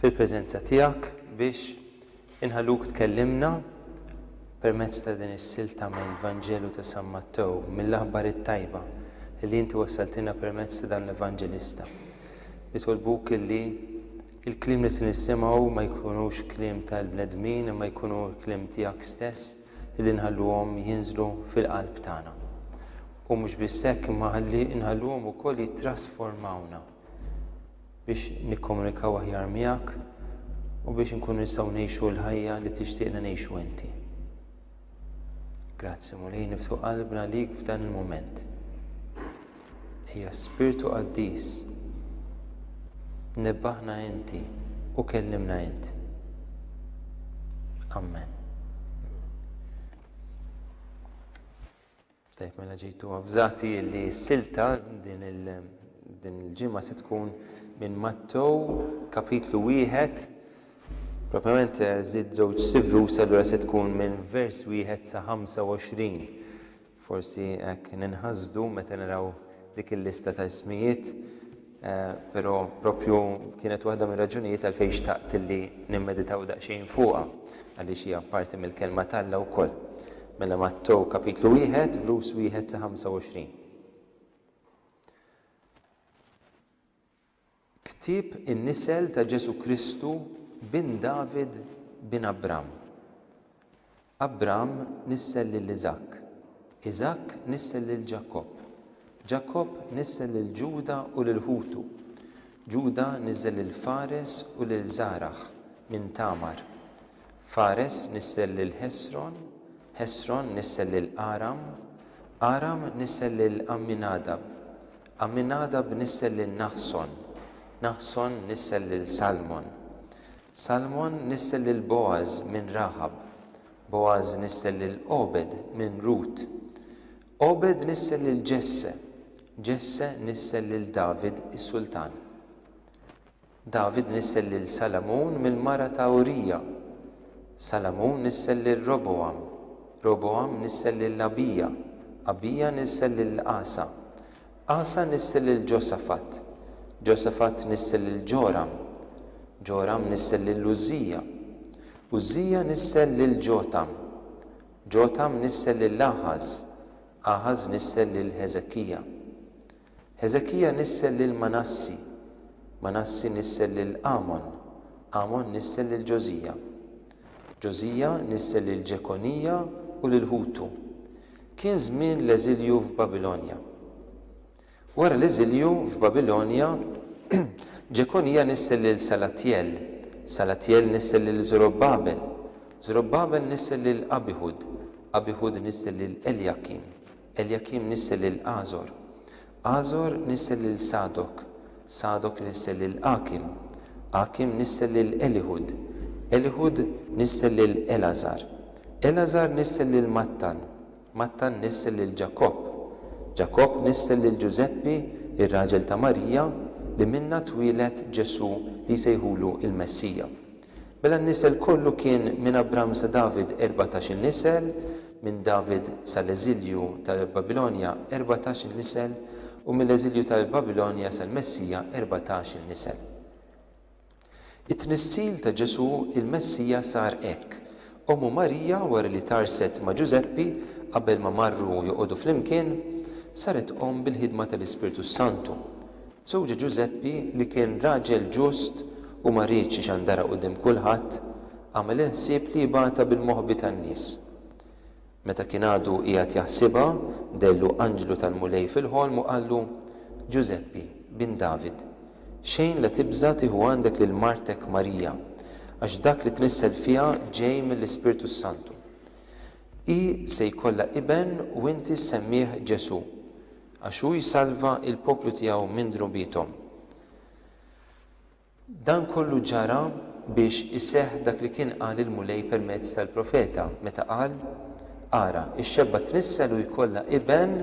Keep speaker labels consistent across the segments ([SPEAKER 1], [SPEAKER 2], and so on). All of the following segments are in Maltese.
[SPEAKER 1] fil-preżenza tiegħek biex inħalluk tkellimna permezz ta' din is-silta mill-Vanġelu ta' San Mattew, mill-aħbar it-tajba li inti wassaltilna permezz ta' dan l-evanġelista. Nitolbuk illi l-kliem li se nisimgħu ma jkunux kliem tal-bnedmin imma jkunu l-kliem tiegħek stess illi nħalluhom jinżlu fil-qalb tagħna. U mhux biss hekk imma ħalli nħalluhom ukoll jittrasformawna. biex nikkomunikaw aħjar miegħek u biex inkunu nistgħu ngħixu l-ħajja li tixtieqna ngħixu inti. Grazzi Mulej niftu qalbna lik f'dan il-mument. Ejja spirtu qaddis. Nebbaħna inti u kellimna int. Amen. Tajjeb mela ġejtu avżati li s-silta din il-ġimgħa se tkun minn Mattew kapitlu wieħed, propjament żidt żewġ sivrus allura se tkun minn vers wieħed sa 25. Forsi hekk ninħasdu meta naraw dik il-lista ta' ismijiet Però proprju kienet waħda mir-raġunijiet għalfejn xtaqt li nimmeditaw daqsxejn fuqha, għaliex hija parti mill-Kelma t'Alla wkoll. Mela Mattew kapitlu wieħed, vrus wieħed sa 25. Ktieb in-nisel ta' Ġesù Kristu bin David bin Abram. Abram nissel lil Iżakk, Iżakk nissel lil Ġakobb, Ġakobb nissel lil Ġuda u lil ħutu, Ġuda niżżel lil Fares u lil Żaraħ minn Tamar, Fares nissel lil Ħesron, Ħesron nissel lil Aram, Aram nissel lil Għamminadab, Għamminadab nissel lil Naħson, Naħson nissel lil Salmon. Salmon nissel lil Bogħaż minn Raħab, Bogħaż nissel lil Għobed minn Rut, Għobed nissel lil Ġesse, Ġesse nissel lil David is-sultan. David nissel lil Salamun mill-mara ta' Urija, Salamun nissel lil Robogħam, Robogħam nissel lil Abija, Abija nissel lil Asa, Asa nissel lil Ġosafat, Ġosafat nissel lil Ġoram, Ġoram nissel lil Użżija, Użżija nissel lil Ġotam, Ġotam nissel lil Aħaż, Aħaż nissel lil Ħeżekija, Ħeżekija nissel lil Manassi, Manassi nissel lil Amon, Amon nissel lil Ġożija, Ġożija nissel lil Ġekonija u lil ħutu. Kien żmien l-eżilju f'Babilonja. Wara l-eżilju f'Babilonja, Ġekonija nissel lil Salatjel, Salatjel nissel lil Żorobbabel, Żorobbabel nissel lil Abihud, Abihud nissel lil Eljakim, Eljakim nissel lil Għażor. Għażor nissel lil Sadok. Sadok nissel lil Għakim. Għakim nissel lil Eliħud. Eliħud nissel lil Elgħażar. Elgħażar nissel lil Mattan. Mattan nissel lil Ġakobb. Ġakobb nissel lil Ġużeppi, ir-raġel ta' Marija, li minnha twieled Ġesù li jsejħulu l-Messija. Mela n-nisel kollu kien minn Abram sa David erbatax-il nisel, minn David sal-eżilju tal-Babilonja erbatax-il nisel, u mill-eżilju tal-Babilonja sal-Messija erbatax-il nisel. It-tnissil ta' Ġesù il-Messija sar hekk, Ommu Marija wara li tgħarrset ma' Ġużeppi qabel ma marru joqogħdu flimkien, saret omm bil-ħidma tal-Ispirtu s-Santu. Żewġha Ġużeppi li kien raġel ġust u ma riedx ixandarha quddiem kulħadd, għamel il-ħsieb li jibgħatha bil-moħbi tan-nies. Meta kien għadu qiegħed jaħsibha, dehlu anġlu tal-Mulej fil-ħolm u qallu, Ġużeppi, bin David, xejn la tibża' tieħu għandek lil martek Marija, għax dak li tnissel fiha ġej mill-Ispirtu s-Santu. Hi se jkollha iben u inti ssemmih Ġesù, għax hu jsalva l-poplu tiegħu minn dnubiethom. Dan kollu ġara biex iseħħ dak li kien qal il-Mulej permezz tal-profeta, meta qal, Ara, ix-xebba tnissel u jkollha iben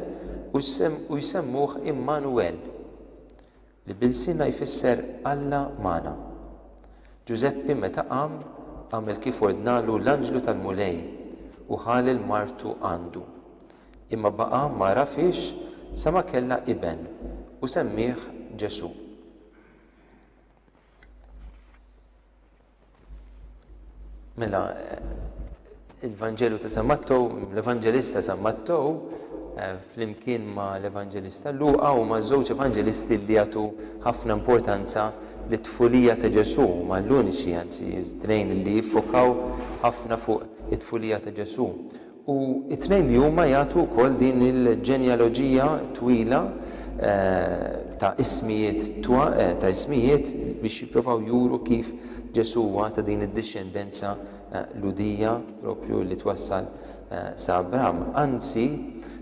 [SPEAKER 1] u jsemmuh Immanuwel, li b'ilsienna jfisser Alla magħna. Ġużeppi meta qam, għamel kif ordnalu l-anġlu tal-Mulej u ħa lil martu għandu. Imma baqa' ma għarafhiex sa ma kellha iben, u semmieh Ġesù. Mela, il-Vanġelu ta' San Mattow, l-Evanġelista San Mattow, eh, flimkien ma' l-Evanġelista Luqa u ma' żewġ Evanġelisti li jagħtu ħafna importanza li tfulija ta' Ġesu, ma' l-uniċi anzi, tnejn li jiffokaw ħafna fuq it-tfulija ta' Ġesu. u t-tnejn li huma jagħtu wkoll din il-ġenjaloġija twila ta' ismijiet ta' ismijiet biex jipprovaw juru kif Ġesù huwa ta' din id-dixxendenza Lhudija proprju li twassal sa Abraham. Anzi,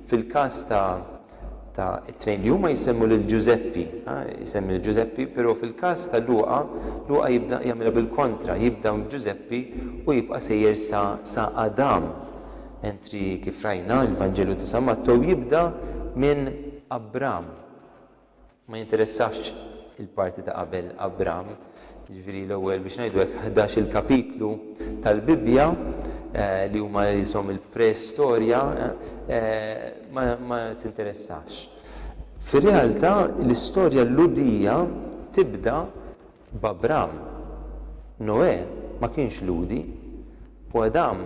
[SPEAKER 1] fil-każ ta' ta' it-tnejn li huma jsemmu lil Ġużeppi, jsemmi lil Ġużeppi, però fil-każ ta' Luqa, Luqa jibda jagħmilha bil-kontra, jibda minn Ġużeppi u jibqa' sejjer sa sa Adam, mentri kif rajna l-Vanġelu ta' San Mattew jibda minn Abram. Ma jinteressax il-parti ta' qabel Abram, jiġifieri l-ewwel, biex ngħidu hekk, ħdax-il kapitlu tal-Bibbja, li huma qishom il-preistorja, ma tinteressax. Fir-realtà, l-istorja Lhudija tibda B'Abram, Noè ma kienx Lhudi, u Adam,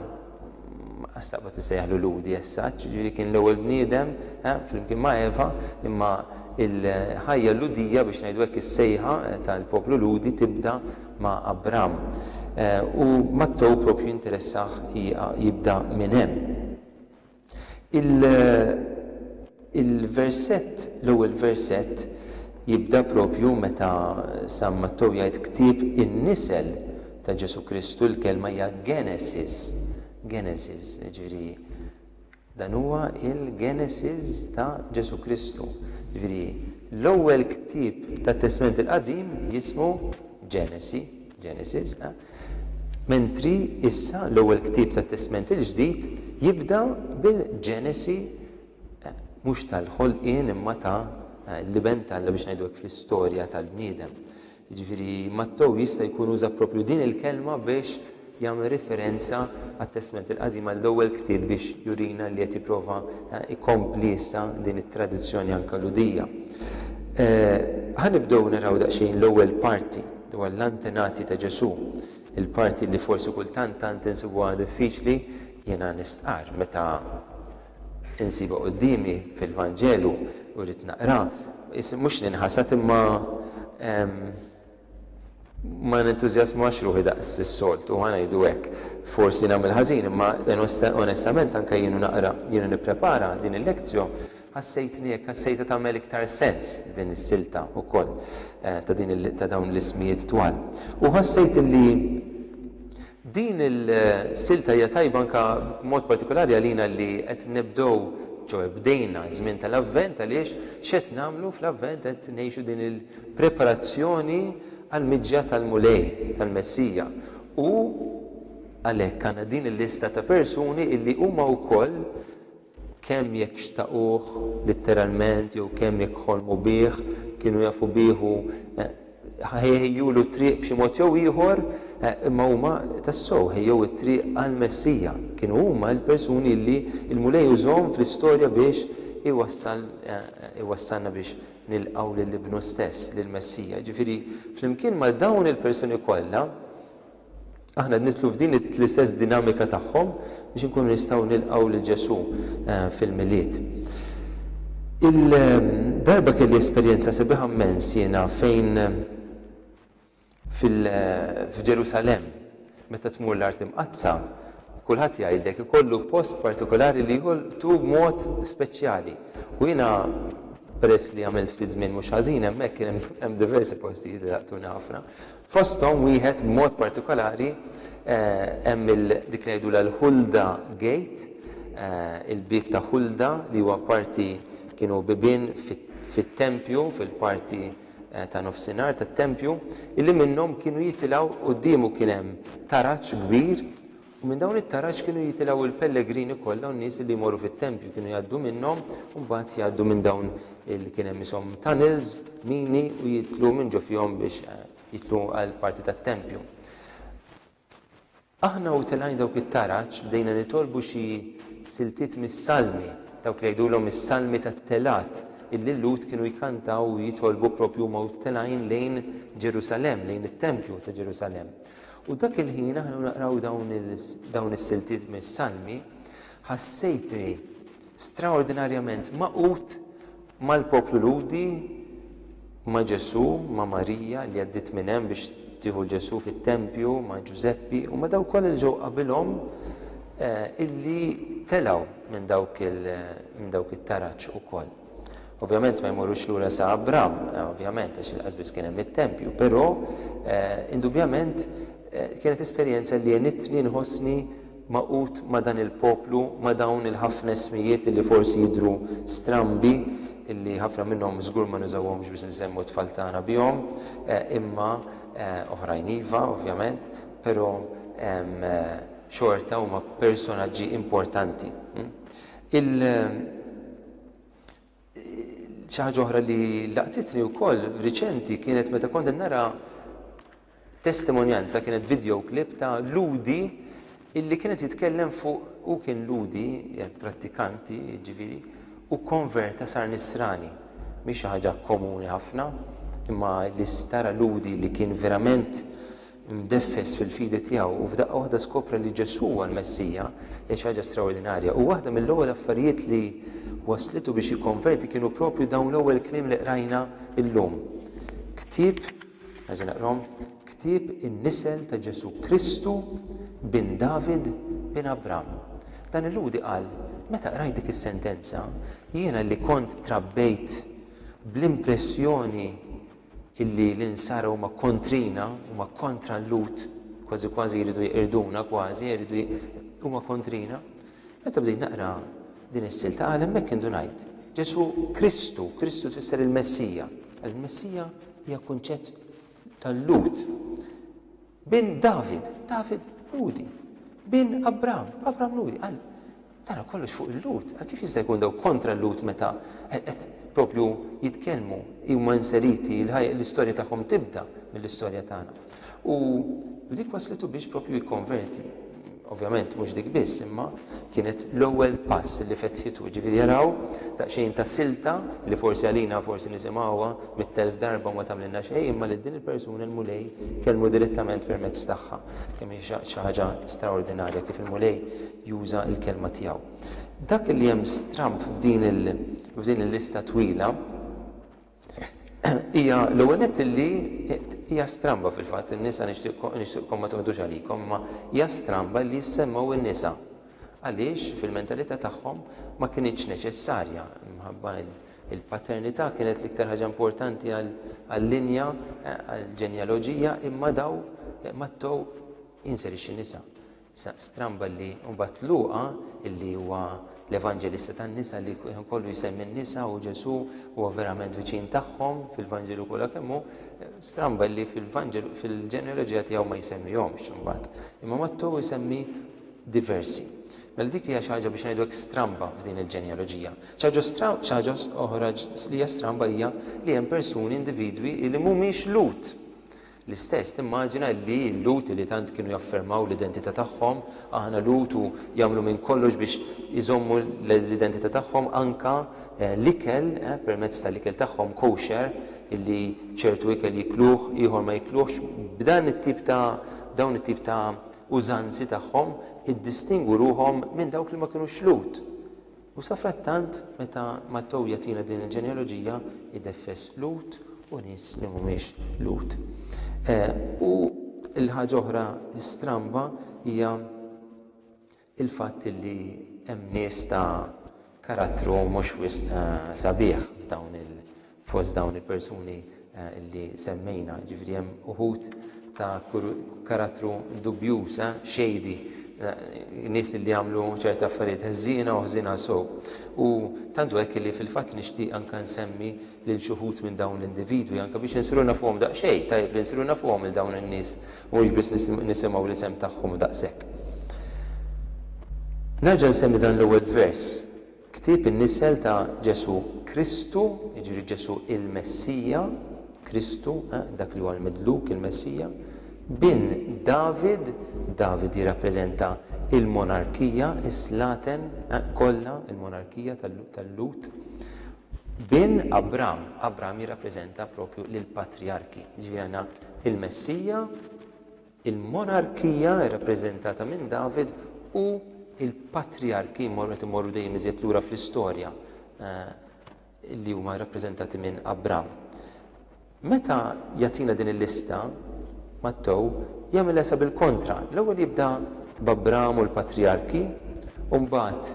[SPEAKER 1] staqbad issejjaħlu Lhudi as such, jiġifieri kien l-ewwel bniedem, ha, flimkien ma' Eva, imma l-ħajja Lhudija, biex ngħidu hekk, is-sejħa tal-poplu Lhudi tibda ma' Abram. U Mattew propju interessah jibda minn hemm. Il, il-versett, l-ewwel versett jibda proprju meta San Mattew jgħid ktieb in-nisel ta' Ġesù Kristu, il-kelma hija Genesis, Genesis, jiġifieri dan huwa il-Genesis ta' Ġesù Kristu. Jiġifieri l-ewwel ktieb tat-Testment il-Qadim jismu Ġenesi, Genesis, Mentri issa l-ewwel ktieb tat-Testment il-Ġdid jibda bil-Ġenesi mhux tal-ħolqien imma ta' l-Iben t'Alla biex ngħidu hekk fl-istorja tal-bniedem. Jiġifieri Mattew jista' jkun uża proprju din il-kelma biex jagħmel riferenza għat-Testment il-Qadim għall-ewwel ktieb biex jurina li qed jipprova jkompli issa din it-tradizzjoni anke Lhudija. Ħa nibdew naraw daqsxejn l-ewwel parti. dwar l-antenati ta' Ġesù, il-parti li forsi kultant tant insibuha diffiċli, jiena nistqarr meta insibha quddiemi fil-Vanġelu u rrid naqra, is, mhux ninħasad imma ma nentużjasmax ruħi daqs is-soltu, ħa ngħidu hekk. Forsi nagħmel ħażin imma onestament anke jiena naqra, jiena nipprepara din il-lectio Ħassejtni hekk, ħassejtha tagħmel iktar sens din is-silta wkoll ta' din ta' dawn l-ismijiet twal. U ħassejt li din il-silta hija tajba anke b'mod partikolari għalina li qed nibdew ġo bdejna ż-żmien tal-Avvent għaliex x'qed nagħmlu fl-Avvent qed ngħixu din il-preparazzjoni għall-miġja tal-Mulej, tal-Messija. U għalhekk għandna din il-lista ta' persuni illi huma wkoll, Kemm jekk xtaquh litteralment jew kemm jekk ħolmu bih, kienu jafu bih u ħejjulu t-triq b'xi mod jew ieħor, imma huma tassew ħejjew it-triq għall-Messija. Kienu huma l-persuni li l-Mulej użhom fl-istorja biex iwassalna biex nilqgħu lil Ibnu stess, lill-Messija. Jiġifieri, flimkien ma' dawn il-persuni kollha, Aħna qed nidħlu f'din l-istess dinamika tagħhom biex inkunu nistgħu nilqgħu lil Ġesù eh, fil-Milied. Il-darba kelli esperjenza sebiħa mmens jiena fejn eh, eh, f'Ġerusalem meta tmur l-art imqaddsa kulħadd jgħidlek ikollu post partikolari li jolqtu b'mod speċjali. U jiena peress li għamilt ftit żmien mhux ħażin hemmhekk kien hemm diversi postijiet li laqtuni ħafna. Fosthom wieħed b'mod partikolari hemm il dik li ngħidulha l-Hulda Gate, il-bieb ta' Hulda li huwa parti kienu bibien fit-tempju, fil-parti ta' nofsinhar tat-tempju, illi minnhom kienu jitilgħu quddiemu kien hemm taraġ kbir U minn dawn it-taraġ kienu jitilgħu l-pellegrini kollha u n-nies li jmorru fit-tempju kienu jgħaddu minnhom u mbagħad jgħaddu minn dawn li kien hemm ishom tunnels, mini u jitlu minn ġo fihom biex eh, jitlu għal parti tat-tempju. Aħna u telgħin dawk it-taraġ bdejna nitolbu xi siltiet mis-salmi, dawk li jgħidulhom is-salmi tat-telat, illi l-Lhud kienu jkantaw u jitolbu propju ma telgħin lejn Ġerusalem, lejn it-Tempju ta' Ġerusalem. U dak il-ħin aħna naqraw dawn is-siltiet mis-Salmi, ħassejtni straordinarjament magħqud mal-poplu Lhudi, ma' Ġesù, ma' Marija li għaddiet minn hemm biex tieħu 'l Ġesù fit-tempju, ma' Ġużeppi u ma' dawk kollha li ġew qabilhom illi telgħu minn dawk it-taraġ ukoll. Ovvjament ma jmorrux lura sa Abram, eh, ovvjament, għax inqas biss kien hemm it-tempju, però eh, indubjament eh, kienet esperjenza li jenitni nħossni maqut ma' dan il-poplu, ma' dawn il-ħafna ismijiet li forsi jidru strambi, illi ħafna minnhom żgur ma nużawhomx biex nsemmu t-tfal tagħna bihom, imma oħrajn iva, ovvjament, però xorta huma personaġġi importanti. Hm? Il xi ħaġa oħra li laqtitni wkoll riċenti kienet meta kont nara testimonjanza kienet video clip ta' Ludi illi kienet jitkellem fuq u kien Ludi, prattikanti, ġifiri, u konverta sar nisrani. Mhix ħaġa komuni ħafna, imma li stara Ludi li kien verament imdeffes fil-fidi tiegħu u f'daqqa waħda skopre li Ġesù huwa l-Messija, hija xi ħaġa straordinarja. U waħda mill-ewwel affarijiet li wasslitu biex jikkonverti kienu proprju dawn l-ewwel kliem li qrajna llum. Ktieb, nerġa' naqrahom, ktieb in-nisel ta' Ġesù Kristu bin David bin Abram. Dan il-Lhudi qal, meta qrajt dik is-sentenza, jiena li kont trabbejt bl-impressjoni illi l-insara huma kontrina, huma kontra l-lut, kważi kważi jridu jqirduna kważi, jridu huma kontrina. Meta bdejt naqra din is-silta għal hemmhekk indunajt. Ġesu Kristu, Kristu tfisser il-Messija. Il-Messija hija kunċett tal-lut. Bin David, David Ludi. Bin Abram, Abram Ludi. Għal, Tara kollox fuq il-lut, għal kif jista' jkun daw kontra l-lut meta qed propju jitkellmu, huma inseriti, l-istorja tagħhom tibda mill-istorja tagħna. U dik waslitu biex propju jikkonverti. Ovvjament, mhux dik biss, imma kienet l-ewwel pass li fetħitu, ġifieri jaraw daqsxejn ta' silta li forsi għalina forsi nisimgħuha mit-telf darba ma tagħmlilna xejn, imma lil din il-persuna l-Mulej kelmu direttament permezz tagħha. Kemm hi xi ħaġa straordinarja kif il-Mulej juża l-kelma tiegħu. Dak li hemm stramb f'din il f'din il-lista twila hija l-ewwel nett li hija stramba fil-fatt in-nisa nixtieqkom ma toħdux għalikom imma hija stramba li jissemmew in-nisa għaliex fil-mentalità tagħhom ma kinitx neċessarja minħabba il-paternità kienet l-iktar ħaġa importanti għall-linja għall-ġenjaloġija imma daw mattow jinserixxi nisa. Sa stramba li mbagħad Luqa, li huwa l-Evanġelista tan-nisa li ħin kollu jsemmi n-nisa u Ġesù huwa verament viċin tagħhom fil-Vanġelu kollha kemm hu, stramba li fil-Vanġelu fil-ġenealoġija tiegħu ma jsemmihomx imbagħad. Imma Mattew isemmi diversi. Mela dik hija xi ħaġa biex ngħidu hekk stramba f'din il-ġenealoġija. Xi ħaġa oħra li hija stramba hija li hemm persuni individwi li mhumiex Lut. L-istess, timmaġina li l-Lhud li tant kienu jaffermaw l-identità tagħhom, aħna l-Lhud u jagħmlu minn kollox biex iżommu l-identità tagħhom anke l-ikel permezz tal-ikel tagħhom kosher illi ċertu ikel jikluh ieħor ma jikluhx, b'dan it-tip ta' b'dawn it-tip ta' użanzi tagħhom iddistingwu ruħhom minn dawk li ma kinux Lhud. U safrattant, meta Mattew jagħtina din il-ġenealoġija, ideffes Lut u nies li mhumiex Lut. U l-ħaġa oħra stramba hija l-fatt li hemm nies ta' karattru mhux wisq sabiħ f'dawn Fost dawn il-persuni eh, li semmejna, ġifri hemm uħud ta' karattru dubjuż, eh, xejdi, eh, nies li għamlu ċerta affarijiet ħżiena u ħżiena sow. U tantu hekk li fil-fatt nixtieq anke nsemmi lil xuħut minn dawn l-individwi anke biex insiru nafuhom daqsxejn, tajjeb li nsiru nafuhom il dawn in-nies mhux biss nisimgħu l-isem tagħhom daqshekk. Nerġa' nsemmi dan l-ewwel vers Ktieb in-nisel ta' Ġesù Kristu, jiġifieri Ġesù il-Messija, Kristu, eh, dak li huwa l-Midluk, il-Messija, bin David, David jirrappreżenta l-monarkija, is-slaten, eh, kollha, il-monarkija tal-Lhud, bin Abram, Abram jirrappreżenta proprju lill-patrijarki, jiġifieri għandna il-Messija, Il-monarkija, irrappreżentata minn David, u l-patrijarki jmorru qed imorru dejjem iżjed lura fl-istorja li huma rrappreżentati minn Abram. Meta jagħtina din il-lista, Mattew jagħmilha sa bil-kontra. L-ewwel jibda b'Abram u l-patrijarki, u mbagħad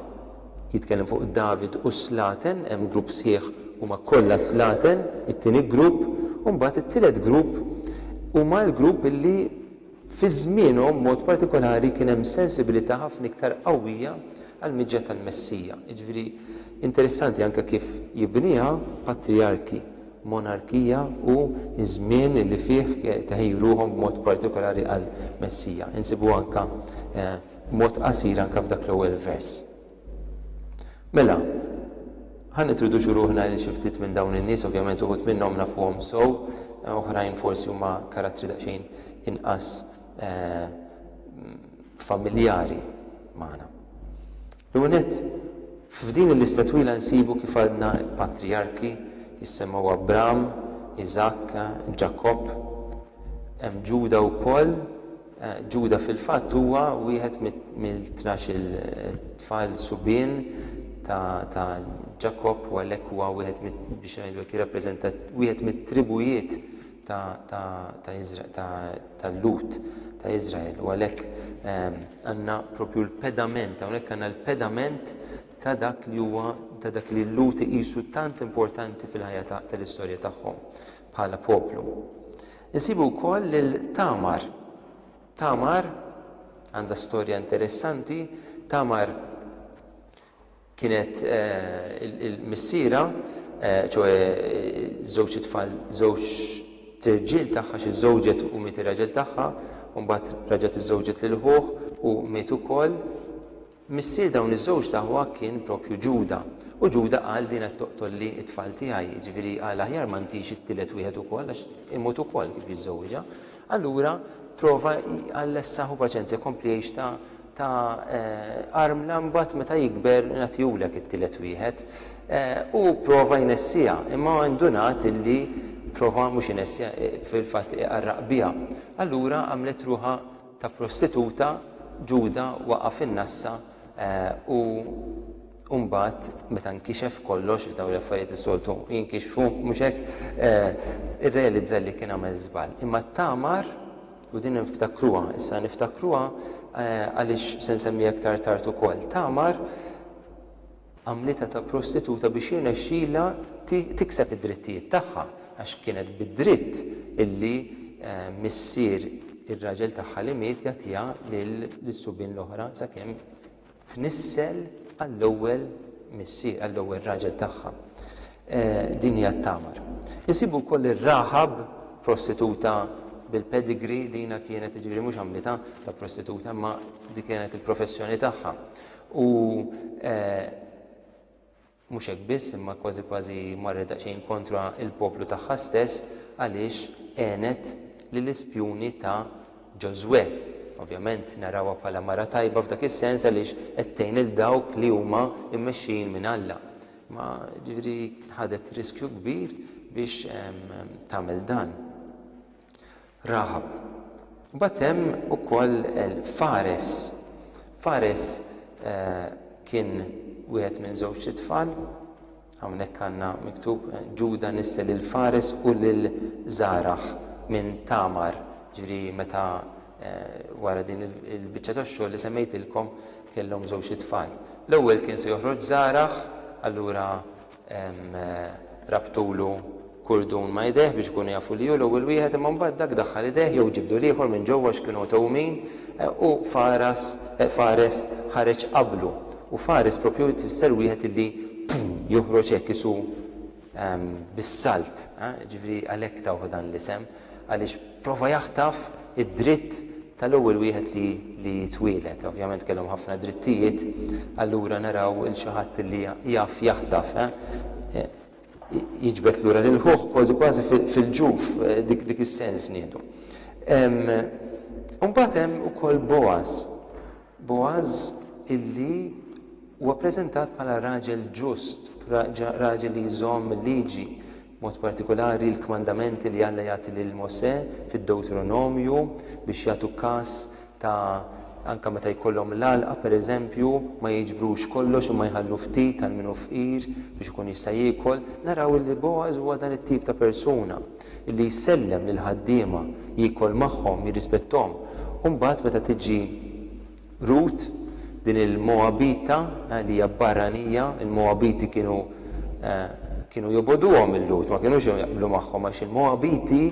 [SPEAKER 1] jitkellem fuq David u Slaten, hemm grupp sħiħ huma kollha Slaten, it-tieni grupp, u mbagħad it-tielet grupp huma l-grupp li fi żmienhom b'mod partikolari kien hemm sensibilità ħafna iktar qawwija għall-miġja tal-Messija. Jiġifieri interessanti anke kif jibniha patrijarki, monarkija u ż-żmien li fih teħeju ruħhom b'mod partikolari għall-Messija. Insibuha anke b'mod qasir anke f'dak l-ewwel vers. Mela, ħa nitroduċu ruħna lil xi ftit minn dawn in-nies, ovvjament uħud minnhom nafuhom sew, oħrajn forsi huma karattri daqsxejn inqas eh, familjari magħna. L-unet, f'din il-lista twila nsibu kif għadna patrijarki jissemmaw Abram, Iżakka, Ġakob, hemm Ġuda wkoll, Ġuda fil-fatt huwa wieħed mill-tnax-il tfal subien ta' Ġakobb u għalhekk huwa wieħed mit biex ngħidu hekk jirrappreżenta wieħed mit-tribujiet ta' tal-Lhud ta' Iżrael u għalhekk għandna proprju l-pedament, hawnhekk għandna l-pedament ta' dak li huwa ta' dak li l-Lhud iqisu tant importanti fil-ħajja tal-istorja tagħhom bħala poplu. Insibu wkoll lil Tamar. Tamar għandha storja interessanti. Tamar kienet eh, il-missira, eh, ċoħe żewġ tfal, żewġ tirġil tagħha xi żewġet u miet ir-raġel tagħha, u mbagħad raġgħet iżżewġet lil ħuh u miet ukoll Missier dawn iż-żewġt aħwa kien proprju Ġuda. U Ġuda qal, Din qed toqtolli t-tfal tiegħi. Jiġifieri qal, Aħjar ma ntix it-tielet wieħed ukoll, għax imut ukoll kif jiżżewwiġha. Allura prova jqallessaħ u paċenzja jkompli jgħix ta' ta' armla imbagħad meta jikber nagħtihulek it-tielet wieħed. Hu pprova jnessiha, imma indunat illi pprova mhux inessiha, fil-fatt iqarraq biha. Allura għamlet ruħha ta' prostituta, Ġuda waqa' fin-nassa u u mbagħad meta nkixef kollox, għax dawn l-affarijiet is-soltu jinkixfu, mhux hekk, irrealizza li kien għamel żball. Imma t-tagħmar, u din niftakruha, issa niftakruha għaliex se nsemmiha iktar tard ukoll, tagħmar, għamlitha ta' prostituta biex jirnexxilha tikseb id-drittijiet tagħha għax kienet bid-dritt illi missier ir-raġel tagħha li miet jagħtiha lis-subien l-oħra sakemm tnissel għall-ewwel missier, għall-ewwel raġel tagħha. Din hija t-Tamar. Insibu wkoll ir-Raħab prostituta bil-pedigree dina kienet jiġifieri mhux għamlitha ta' prostituta imma dik kienet il-professjoni tagħha. U mhux hekk biss, imma kważi kważi marret daqsxejn kontra l-poplu tagħha stess għaliex għenet lill-ispjuni ta' Ġożwè. Ovvjament narawha bħala mara tajba f'dak is-sens għaliex qed tgħin lil dawk li huma mmexxijin minn Alla. Imma ġifieri ħadet riskju kbir biex tagħmel dan. Raħab. Mbagħad hemm ukoll Fares. Fares kien wieħed minn żewġt itfal, hawnhekk għandna miktub Ġuda nissel lil Fares u lil Żaraħ minn Tamar, ġifieri meta wara din il-biċċa tax-xogħol li semmejtilkom kellhom żewġt itfal. L-ewwel kien se joħroġ Żaraħ, allura Rabtulu kurdun ma' idejh biex ikunu jafu li hu l-ewwel wieħed imma mbagħad dak daħħal idejh jew ġibdu l-ieħor minn ġewwa għax kienu għtewmin u faras fares ħareġ qablu u fares proprju tfisser wieħed illi joħroġ hekk isu bis-salt, jiġifieri għalhekk tawh dan l-isem għaliex Prova jaħtaf id-dritt tal-ewwel wieħed li li jitwieled. Ovvjament kellhom ħafna drittijiet, allura naraw il xi ħadd li jaf jaħtaf, jiġbed lura lil ħuh kważi kważi fil-ġuf, dik dik is-sens ngħidu. Imbagħad hemm ukoll Boaz. Boaz illi huwa ppreżentat bħala raġel ġust, raġel li jżomm il-Liġi, b'mod partikulari l-kmandamenti li Alla jagħti lil Mosè fid-Dewtronomju biex jagħtu kas ta' anke meta jkollhom l-għalqa pereżempju ma jiġbrux kollox imma jħallu ftit għal min hu fqir biex ikun jista' jiekol, naraw illi Boaz huwa dan it-tip ta' persuna. li jsellem lill-ħaddiema, jiekol magħhom, jirrispetthom. U mbagħad meta tiġi Rut, din il-Mogħabita li hija barranija, il-Mogħabiti kienu kienu jobogħduhom il-Lhud, ma kinux jaqblu magħhom għax il-Mogħabiti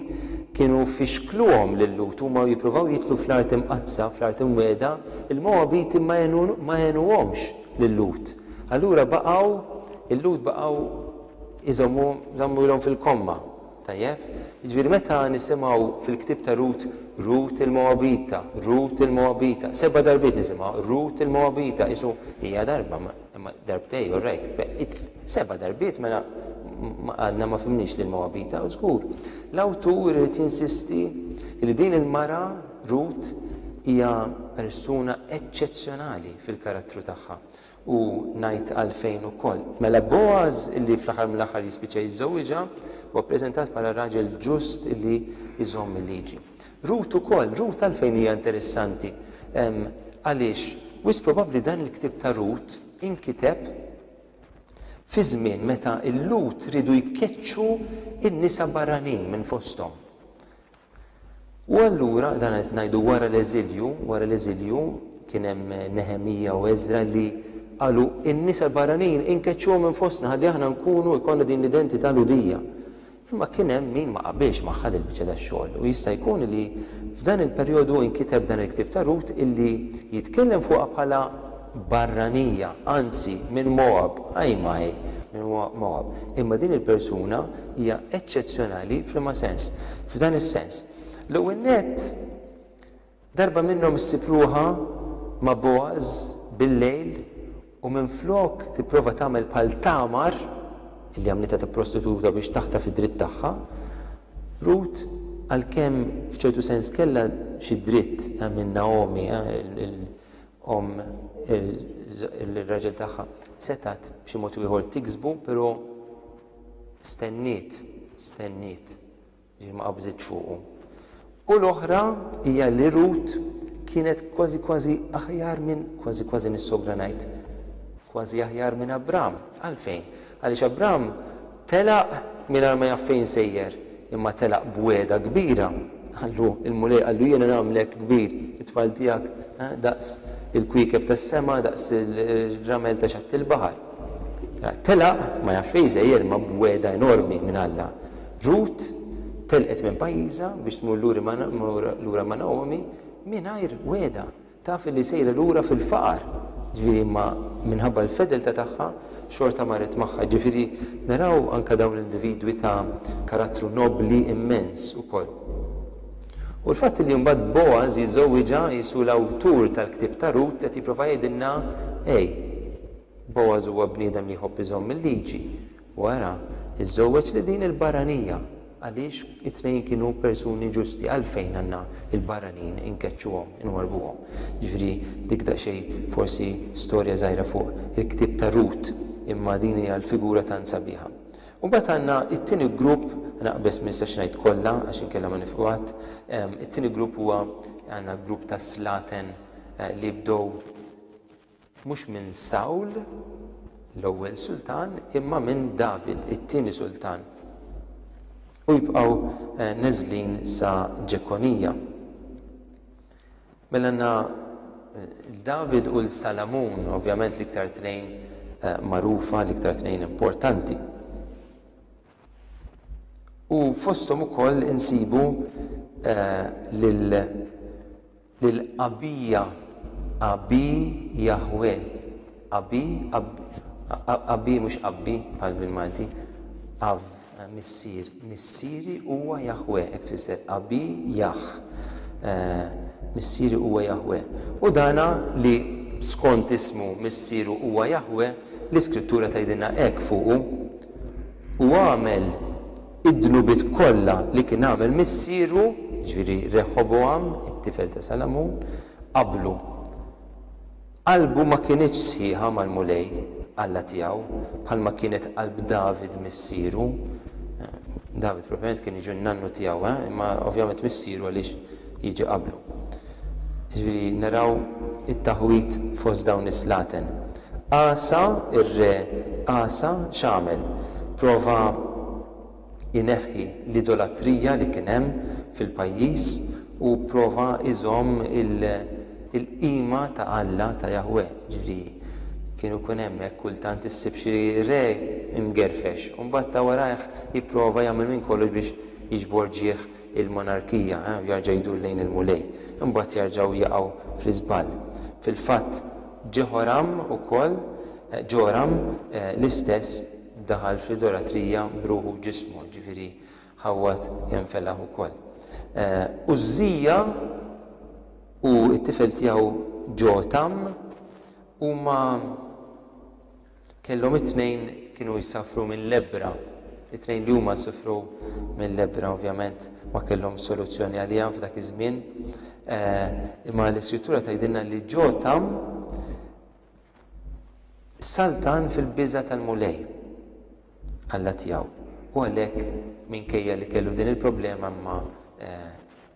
[SPEAKER 1] kienu fixkluhom lil-Lhud, huma jippruvaw jidħlu fl-Art Imqaddsa, fl-Art Imwiegħda, il-Mogħabiti ma għenuhomx lil-Lhud. Allura baqgħu, il-Lhud baqgħu, Iżommu, żammu ilhom fil-komma. Tajjeb? Jiġifieri meta nisimgħu fil-ktieb ta' Rut, Rut il-Moabita, Rut il-Moabita, seba' darbiet nisimgħu, Rut il-Moabita, qisu hija darba, imma darbtej, all right, seba' darbiet mela għadna ma fimniex lil Moabita, u żgur. L-awtur irid jinsisti li din il-mara, Rut, hija persuna eċċezzjonali fil-karattru tagħha. u ngħid għalfejn ukoll. Mela Bogħaż li fl-aħħar mill-aħħar jispiċċa jiżżewwiġha huwa ppreżentat bħala raġel ġust li jżomm il-liġi. Rut ukoll, Rut għalfejn hija interessanti? Għaliex wisq probabbli dan il-ktieb ta' Rut inkiteb fi żmien meta l-Lhud riedu jkeċċu n-nisa barranin minn fosthom. U allura, dan qed ngħidu wara l-eżilju, wara l-eżilju kien hemm Neħemija u Eżra li qalu n-nisa l-barranin inkeċċuhom minn fostna ħalli aħna nkunu jkollna din l-identità Lhudija. Imma kien hemm min ma qabilx magħha din il-biċċa tax-xogħol u jista' jkun li f'dan il-perjodu inkiteb dan il-ktieb ta' Rut illi jitkellem fuqha bħala barranija, anzi, minn Moab, ajj m'ajj, minn Moab. Imma din il-persuna hija eċċezzjonali f'liema sens? F'dan is-sens. L-ewwel nett, darba minnhom ssib ruħha ma' Bogħaż bil-lejl u minflok tipprova tagħmel bħal Tamar, li għamlitha ta' prostituta biex taħtaf id-dritt tagħha, Rut, għalkemm f'ċertu sens kellha xi dritt minn Naomi, omm ir-raġel tagħha setgħet b'xi mod ieħor tiksbu, però stenniet, stenniet, ġifieri ma qabżitx fuqu. U l-oħra hija li Rut kienet kważi kważi aħjar minn kważi kważi nis-sogra ngħid, kważi aħjar minn Abram. Għalfejn? Għaliex Abram telaq mingħajr ma jaf fejn sejjer, imma telaq b'wegħda kbira. Qallu, Il-Mulej qallu, Jiena nagħmlek kbir, it-tfal tiegħek daqs il-kwiekeb tas-sema, daqs ir-ramel ta' xatt il-baħar. Telaq, ma jafx fejn sejjer, imma b'wegħda enormi minn Alla. Rut telqet minn pajjiżha biex tmur lura ma' Naomi mingħajr wegħda. Taf li sejra lura fil-faqar, ġifieri imma minħabba l-fedeltà tagħha xorta marret magħha. Ġifieri naraw anke dawn l-individwi ta' karattru nobbli immens ukoll. U l-fatt li mbagħad Boaz jiżżewwiġha, qisu l-awtur tal-ktieb ta' Rut qed jipprova jgħidilna, Ej, Boaz huwa bniedem li jħobb iżomm il-liġi, U ara, iżżewweġ lil din il-barranija, għaliex it-tnejn kienu persuni ġusti, għalfejn għandna l-barranin inkeċċuhom, inwarrbuhom? Jiġifieri dik daqsxejn forsi storja żgħira fuq il-ktieb ta' Rut, imma din hija l-figura tant sabiħa. U mbagħad għandna t-tieni grupp, naqbeż ma nistax ngħid kollha għax inkella ma nifqu qatt, it-tieni grupp huwa għandna grupp ta' slaten li bdew Mhux minn Sawl, l-ewwel sultan, imma minn David, it-tieni sultan. U jibqgħu neżlin sa Ġekonija. Mela għandna l-David u l-Salamun, ovvjament l-iktar tnejn magħrufa, l-iktar tnejn importanti. U fosthom ukoll insibu lil Abija, Abi Jahwe, Abi, Abi mhux Abbi bħal bil-Malti, Av, Missier, Missieri huwa Jahwe, hekk tfisser, Abi Jah, Missieri huwa Jahwe. U dana li skont ismu Missieru huwa Jahwe, l-Iskrittura tgħidilna hekk fuqu, u għamel id-dnubiet kollha li kien għamel missieru, jiġifieri Reħobogħam, it-tifel ta' Salamun, qablu. Qalbu ma kinitx sħiħa mal-Mulej, Alla tiegħu, bħalma kienet qalb David missieru. David propjament kien jiġu n-nannu tiegħu, eh? imma ovvjament missieru għaliex jiġi qablu. Jiġifieri naraw it-taħwid fost dawn is-slaten. Asa, ir-re Asa, x'għamel? Prova jneħħi l-idolatrija li kien hemm fil-pajjiż u prova jżomm il-qima ta' Alla, ta' Jaħweh. Jiġifieri kien ikun hemm hekk kultant issib xi re imgerfex u mbagħad ta' warajh jipprova jagħmel minn kollox biex jiġbor ġieħ il-monarkija, u jerġa' jdur lejn il-Mulej, imbagħad jerġgħu jaqgħu fl-iżball. Fil-fatt, Ġeħoram ukoll, Ġoram, l-istess, daħal fl-idolatrija b'ruħu u ġismu, jiġifieri ħawwad kemm felaħ ukoll. Użżija u t-tifel tiegħu Ġotam huma. Kellhom it-tnejn kienu jsafru minn lebbra. It-tnejn li huma sifru minn lebbra ovvjament ma kellhomx soluzzjoni għaliha f'dak iż-żmien. Imma l-Iskrittura tgħidilna li Ġotam saltan fil-biża' tal-Mulej, Alla tiegħu, u għalhekk minkejja li kellu din il-problema imma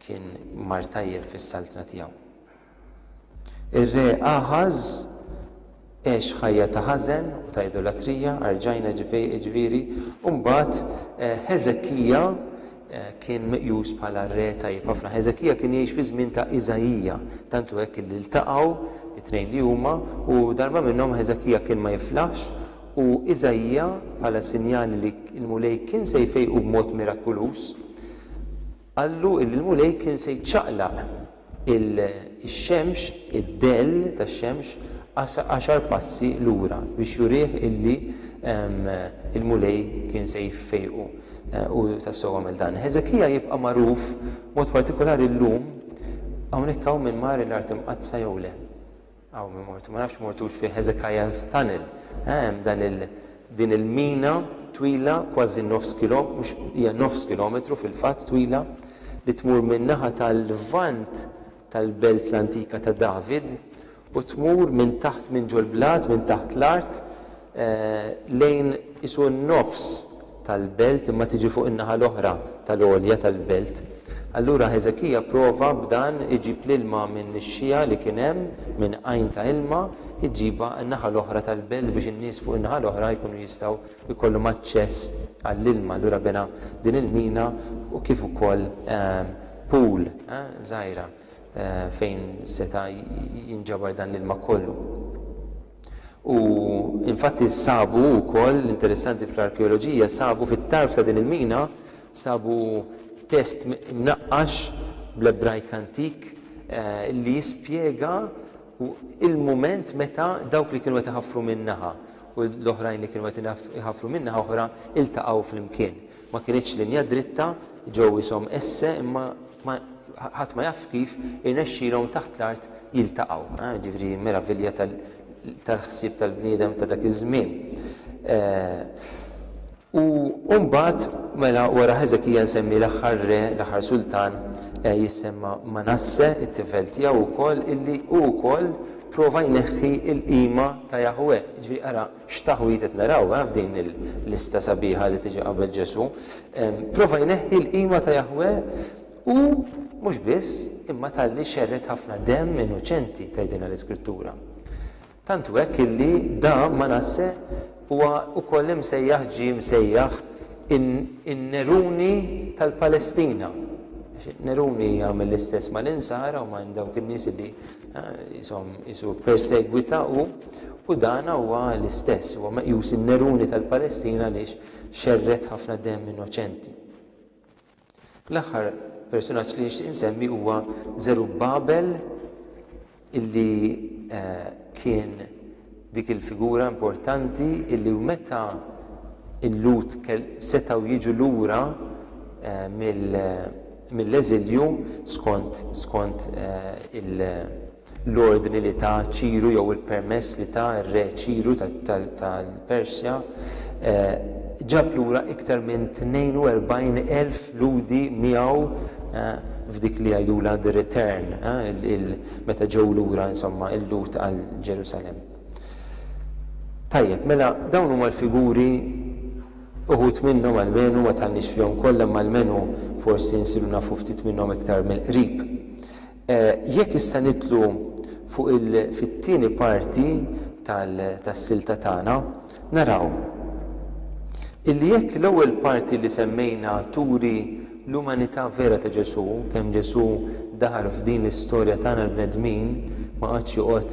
[SPEAKER 1] kien mar tajjeb fis-saltna tiegħu. Ir-Re Aħaż għex ħajja ta' ħażen u ta' idolatrija, arġajna jiġifieri, u mbagħad Ħeżekija kien meqjus bħala re tajjeb ħafna. Ħeżekija kien jgħix fiż-żmien ta' Iżaija, tant hu hekk li ltaqgħu t-tnejn li huma u darba minnhom Ħeżekija kien ma jiflaħx u Iżaija, bħala sinjal li l-Mulej kien se jfejqu b'mod mirakuluż, Qallu li l-Mulej kien se jċaqlaq ix-xemx, id-dell tax-xemx, għaxar passi lura biex jurih illi l-Mulej kien se jfejqu. U tassew għamel dan. Ħeżekija jibqa' magħruf b'mod partikulari llum, hawnhekk hawn min mar l-Art Imqaddsa jew le. Hawn ma mortu, ma nafx mortux fi Hezekiah's Tunnel, hemm dan il, din il-mina twila kważi nofs kilo, mhux, hija nofs kilometru fil-fatt twila, li tmur min-naħa tal-Lvant tal-belt l-antika ta' David u tmur minn taħt minn ġol-blat, minn taħt l-art, lejn qisu n-nofs tal-belt imma tiġi fuq in-naħa l-oħra tal-għolja tal-belt. Allura Ħeżekija pprova b'dan iġib l-ilma minn nixxiegħa li kien hemm, minn għajn ta' ilma, iġibha n-naħa l-oħra tal-belt biex in-nies fuq in-naħa l-oħra jkunu jistgħu jkollhom aċċess għall-ilma. Allura bena din il-mina u kif ukoll pool żgħira fejn seta' jinġabar dan l-ilma kollu. U infatti sabu wkoll, interessanti fl-arkeoloġija, sabu fit-tarf ta' din il-mina, sabu test mnaqqax bl-Ebrajk antik li jispjega il-mument meta dawk li kienu qed iħaffru minn naħa u l-oħrajn li kienu qed iħaffru minn naħa oħra ltaqgħu flimkien. Ma kinitx linja dritta, ġew ishom esse imma ma ħadd ma jaf kif irnexxielhom taħt l-art jiltaqgħu. Ah, ġifieri meravilja tal-ħsieb tal-bniedem ta' dak iż-żmien. Eh, U mbagħad mela wara Ħeżekija nsemmi l-aħħar re, l-aħħar sultan eh, jissemma Manasse, it-tifel tiegħu wkoll illi hu wkoll prova jneħħi l-qima ta' Jahwe. Ġifieri ara X'taħwid qed naraw, eh, f'din il-lista sabiħa li tiġi qabel Ġesù! Prova jneħħi l-qima ta' Jaħweh u mhux biss, imma talli xerred ħafna demm innoċenti, tgħidilna l-Iskrittura. Tant hu hekk illi da Manasse huwa wkoll imsejjaħ ġie msejjaħ in-Neruni tal-Palestina. Neruni jagħmel l-istess mal-Insara u ma' dawk in-nies li Qishom qisu persegwita hu, u dan huwa l-istess, huwa meqjus in-Neruni tal-Palestina għaliex xerred ħafna demm innoċenti. L-aħħar persunaġġ li nixtieq insemmi huwa Żerubbabel illi kien Dik il-figura importanti illi meta l-Lhud setgħu jiġu lura mill-eżilju skont l-ordni li ta Ċiru jew il-permess li ta r-Re Ċiru tal-Persja, ġab lura iktar minn 42,000 Lhudi miegħu f'dik li jgħidulha the return, meta ġew lura, insomma, il-Lhud għal Ġerusalemm. Tajjeb, mela dawn huma l-figuri uħud minnhom almenu ma tħallniex fihom kollha imma almenu forsi nsiru nafu ftit minnhom iktar mill-qrib. Eh, jekk issa nitlu fuq il-fit-tieni parti tas-silta tagħna, Naraw illi jekk l-ewwel parti li semmejna turi l-umanità vera ta' Ġesù, kemm Ġesù daħal f'din l-istorja tagħna l-bnedmin, ma qagħadx joqgħod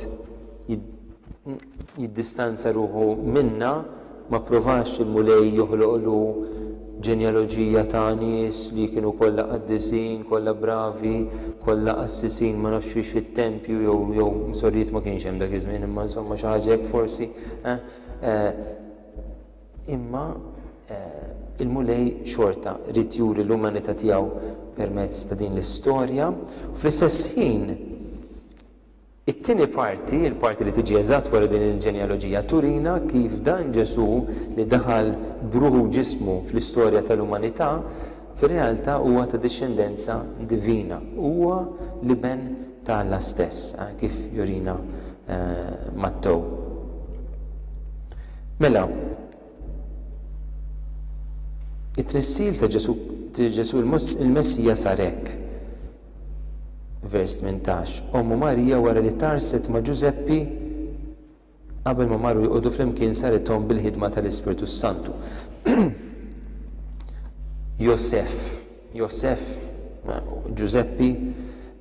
[SPEAKER 1] jiddistanza ruħu minna, ma pprovax il-Mulej joħloqlu Ġenjaloġija ta' nies li kienu kollha qaddisin, kollha bravi, kollha qassisin ma nafx fiex fit-tempju jew jew sorijiet ma kienx hemm dak iż-żmien imma insomma xi ħaġa hekk forsi eh eh imma eh il-Mulej xorta ried juri l-umanità tiegħu permezz ta' din l-istorja u fl-istess ħin It-tieni parti, il-parti li tiġi eżatt wara din il-ġenealoġija, turina kif dan Ġesù li daħal b'ruħu u ġismu fl-istorja tal-umanità, fir-realtà huwa ta' dixxendenza divina. Huwa l-Iben ta' Alla stess, kif jurina Mattew. Mela, it-tnissil ta' Ġesù il-Messija sar hekk. Vers 18. Ommu Marija wara li tarset ma' Ġużeppi qabel ma marru joqogħdu flimkien sarithom bil-ħidma tal-Ispirtu s-Santu. Josef, Josef, Ġużeppi,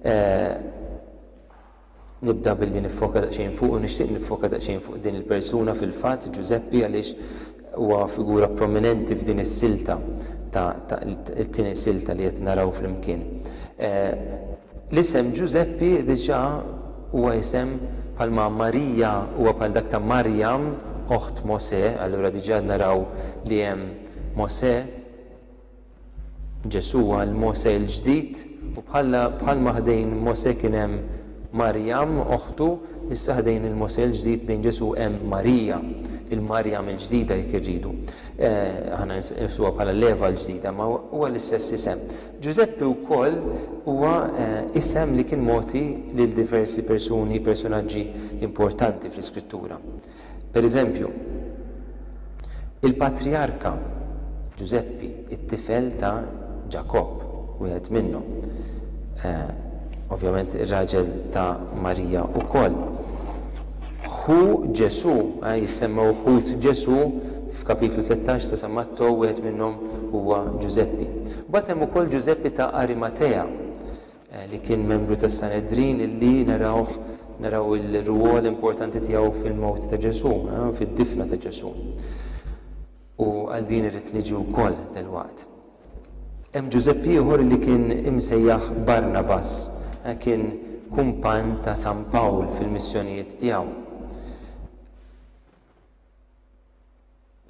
[SPEAKER 1] eh, Nibda billi niffoka daqsxejn fuqu, nixtieq niffoka daqsxejn fuq din il-persuna fil-fatt, Ġużeppi, għaliex huwa figura prominenti f'din is-silta ta' it-tieni silta li qed naraw flimkien. L-isem Ġużeppi diġà huwa isem bħalma Marija huwa bħal dak ta' Marjam, oħt Mosè, allura diġà qed naraw li hemm Mosè, Ġesù għal Mosè l-ġdid, u bħalma ħdejn Mosè kien hemm Marjam, oħtu, issa ħdejn il-Mosè l-ġdid, ħdejn Ġesù hemm Marija, il-Marjam il-ġdida jekk irridu. Aħna nqisuha bħala l-Eva l-ġdida, imma huwa l-istess isem. Ġużeppi wkoll huwa isem li kien mogħti lil diversi persuni, personaġġi importanti fl-Iskrittura. Pereżempju, il-patrijarka Ġużeppi, it-tifel ta' Ġakobb, wieħed minnhom, ovvjament ir-raġel ta' Marija wkoll, ħu Ġesù, jissemmew ħut Ġesù f'Kapitlu tlettax ta' San Mattew, wieħed minnhom huwa Ġużeppi. Mbagħad hemm ukoll Ġużeppi ta' Arimatea, li kien membru tas-Sanedrin, illi narawh, naraw il-rwol importanti tiegħu fil-mewt ta' Ġesù, fid-difna ta' Ġesù. U għal din irrid niġi wkoll dalwaqt. Hemm Ġużepp ieħor li kien imsejjaħ Barnabas, eh, kien kumpann ta' San Pawl fil-missjonijiet tiegħu.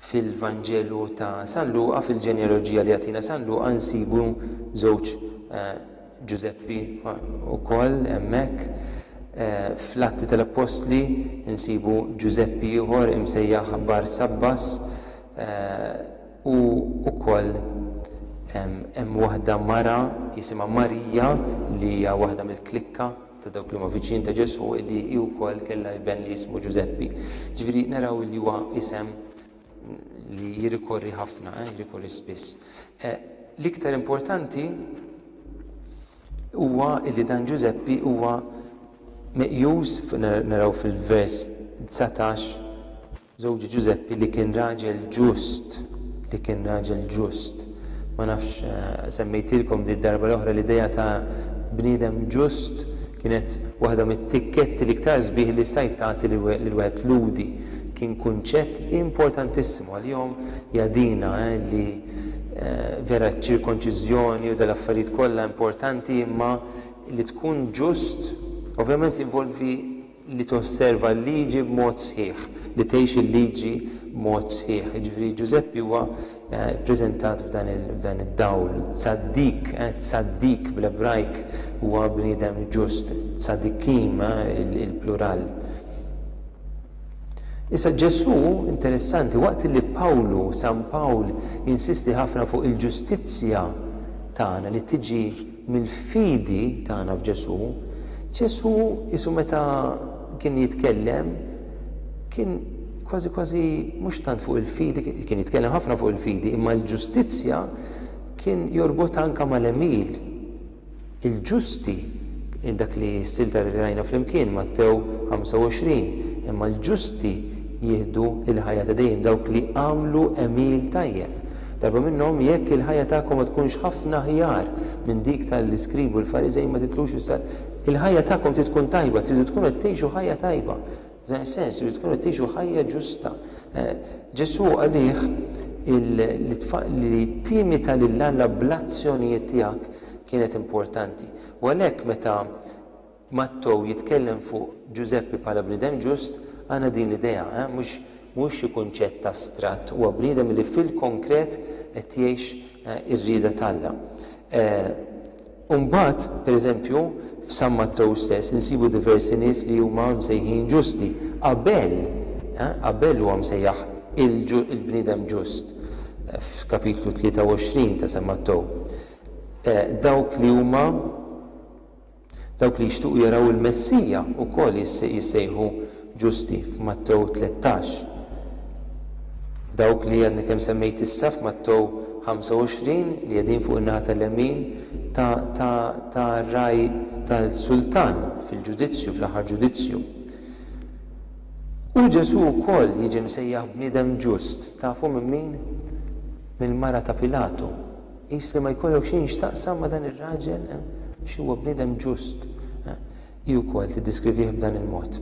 [SPEAKER 1] Fil-Vanġelu ta' San Luqa, fil-ġenealoġija li jagħtina San Luqa nsibu żewġ eh, Ġużeppi wkoll eh, hemmhekk. Eh, Fl-Atti tal-Appostli nsibu Ġużeppi ieħor imsejjaħ Bar Sabbas u wkoll hemm waħda mara jisimha Marija li hija waħda mill-klikka ta' dawk li huma viċin ta' Ġesù li hi wkoll kellha iben li jismu Ġużeppi. Ġifieri naraw li huwa isem li jirrikorri ħafna, eh, jirrikorri spiss. Eh, l-iktar importanti huwa li dan Ġużeppi huwa meqjus naraw fil-vers 19 Żewġ Ġużeppi li kien raġel ġust, li kien raġel ġust. Ma nafx semmejtilkom di d-darba l-oħra l-idea ta' bniedem ġust kienet waħda mit-tikketti l-iktar sbieħ li stajt tagħti lil wieħed Lhudi. Kien kunċett importantissimu għalihom jadina li vera ċ-ċirkonċiżjoni u dal-affarijiet kollha importanti imma li tkun ġust ovvjament jinvolvi li tosserva l-liġi b'mod sħiħ, li tgħix il-liġi b'mod sħiħ. Jiġifieri Ġużeppi huwa ppreżentat f'dan id-dawl, tsaddiq, tsaddiq bl-Ebrajk huwa bniedem ġust, tzadikim il-plural. Issa Ġesù, interessanti, waqt li Pawlu, San Pawl, jinsisti ħafna fuq il-ġustizzja tagħna li tiġi mill-fidi tagħna f'Ġesù, Ġesù qisu meta kien jitkellem kien kważi kważi mhux tant fuq il-fidi, kien jitkellem ħafna fuq il-fidi, imma l-ġustizzja kien jorbotha anke mal-għemil. Il-ġusti, il-dak li s-silta li rajna flimkien, Mattew 25, imma l-ġusti jieħdu l-ħajja ta' dejjem dawk li għamlu għemil tajjeb. Darba minnhom, jekk il-ħajja tagħkom ma tkunx ħafna aħjar minn dik ta' l-iskribi u l-fariżej ma titlux fis-sal. Il-ħajja tagħkom trid tkun tajba, tridu tkunu qed tgħixu ħajja tajba. F'dan is-sens, tridu tkunu qed tgħixu ħajja ġusta. Ġesù qalih li timita lil Alla bl-azzjonijiet tiegħek kienet importanti. U għalhekk meta Mattew jitkellem fuq Ġużeppi bħala bniedem ġust, għandna din l-idea, eh, mhux, mhux xi kunċett astratt, huwa bniedem li fil-konkret qed jgħix ir-rieda t'Alla. U mbagħad, per eżempju, f'San Mattew stess insibu diversi nies li huma msejħin ġusti. Abel, eh, Abel huwa msejjaħ il-bniedem ġust f'kapitlu 23 ta' San Mattew. Dawk li huma. Dawk li jixtiequ jaraw il-Messija wkoll jissejħu ġusti f'Mattew tlettax. Dawk li għadni kemm semmejt issa f'Mattew ħamsa u għoxrin li qegħdin fuq in-naħa tal-lemin tar-ragħaj tas-sultan fil-ġudizzju, fl-aħħar ġudizzju. U Ġesù wkoll jiġi msejjaħ bniedem ġust. Tafu minn min? Mill-mara ta' Pilatu. Qis li ma jkollok xejn x'taqsam ma' dan ir-raġel, għax huwa bniedem ġust. Hi wkoll tiddiskrivih b'dan il-mod.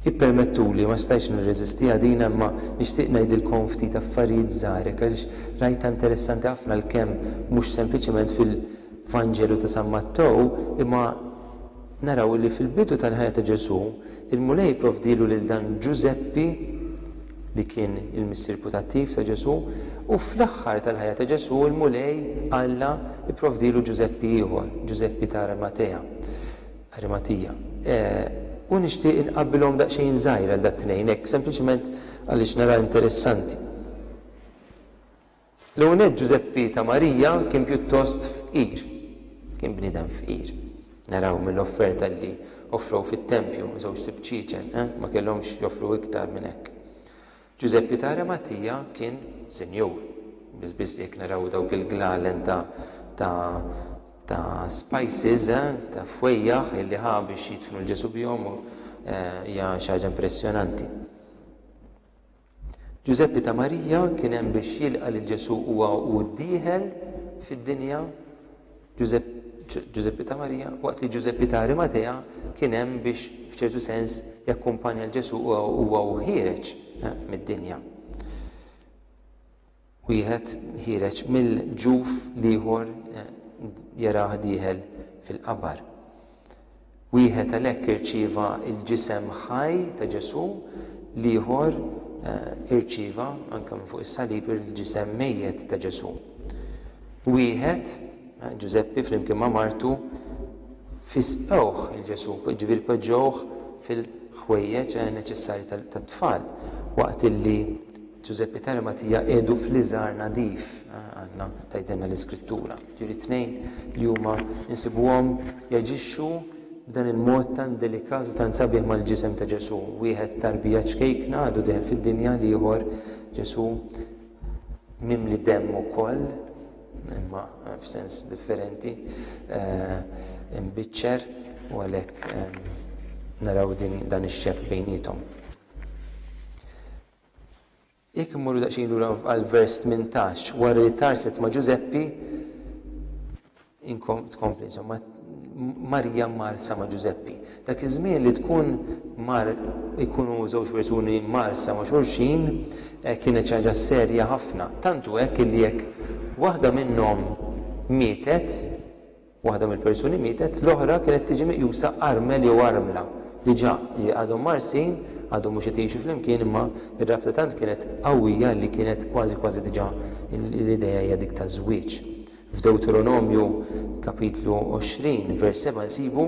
[SPEAKER 1] Ippermettuli, ma stajtx nirreżistiha din imma nixtieq ngħidilkom ftit affarijiet żgħar hekk għaliex rajtha interessanti ħafna għalkemm mhux sempliċement fil-Vanġelu ta' San Mattew imma Naraw illi fil-bidu tal-ħajja ta' Ġesù, il-Mulej jipprovdilu lil dan Ġużeppi, li kien il-missier putattiv ta' Ġesù, u fl-aħħar tal-ħajja ta' Ġesù, il-Mulej, Alla, ipprovdilu Ġużeppi ieħor, Ġużeppi ta' Arimatea, Arimatija. U nixtieq inqabbilhom daqsxejn żgħir għal dat-tnejn, hekk sempliċement għaliex narah interessanti. L-ewwelnett Ġużeppi ta' Marija kien pjuttost fqir. Kien bniedem fqir. Naraw mill-offerta li offrew fit-tempju, żewġt ibċiċen, eh, ma kellhomx joffru iktar minn hekk. Ġużeppi ta' Arimatija kien sinjur. Biss biss jekk naraw dawk il-glalen ta' ta' ta' spices, eh, ta' fwejjaħ illi ħa biex jidfnu lil Ġesù bihom, eh, hija xi ħaġa impressjonanti. Ġużeppi ta' Marija kien hemm biex jilqa' lil Ġesù huwa u dieħel fid-dinja. Ġużeppi Ġużeppi ta' Marija, waqt li Ġużeppi ta' Arimatea kien hemm biex f'ċertu sens jakkumpanja l Ġesù huwa u ħiereġ eh, mid-dinja. Wieħed ħiereġ mill-ġuf l-ieħor jarah dieħel fil-qabar. Wieħed għalhekk irċieva l-ġisem ħaj ta' Ġesù, l-ieħor irċieva anke minn fuq is-salib il-ġisem mejjet ta' Ġesù. Wieħed, Ġużeppi flimkien ma' martu, fisqewh il-Ġesù, ġifieri poġġewh fil-ħwejjeġ neċessarji tat-tfal waqt illi Ġużeppi Tali Matija qiegħdu fl-iżgħar nadif, għandna tgħidilna l-Iskrittura. Ġifieri t-tnejn li huma nsibuhom jaġixxu b'dan il-mod tant delikat u tant sabiħ mal-ġisem ta' Ġesù. Wieħed tarbija ċkejkna għadu deħel fid-dinja, l-ieħor Ġesù mimli demm ukoll, imma f'sens differenti, eh, imbiċċer u għalhekk eh, naraw din dan ix-xebh bejniethom. Jekk immorru daqsxejn lura għall-vers 18, wara li tarset ma' Ġużeppi, tkompli insomma, Marija marsa ma' Ġużeppi. Dak iż-żmien li tkun mar ikunu żewġ persuni marsa ma' xulxin eh, kienet xi ħaġa serja ħafna. Tantu hekk li jekk waħda minnhom mietet, Waħda mill-persuni mietet, l-oħra kienet tiġi meqjusa armel jew armla, diġà, jiġifieri għadhom mgħarrsin, għadhom mhux qed jgħixu flimkien imma r-rabta tant kienet qawwija li kienet kważi kważi diġà l-idea hija dik taż-żwieġ. F'Dewteronomju, kapitlu 20, vers 7 nsibu,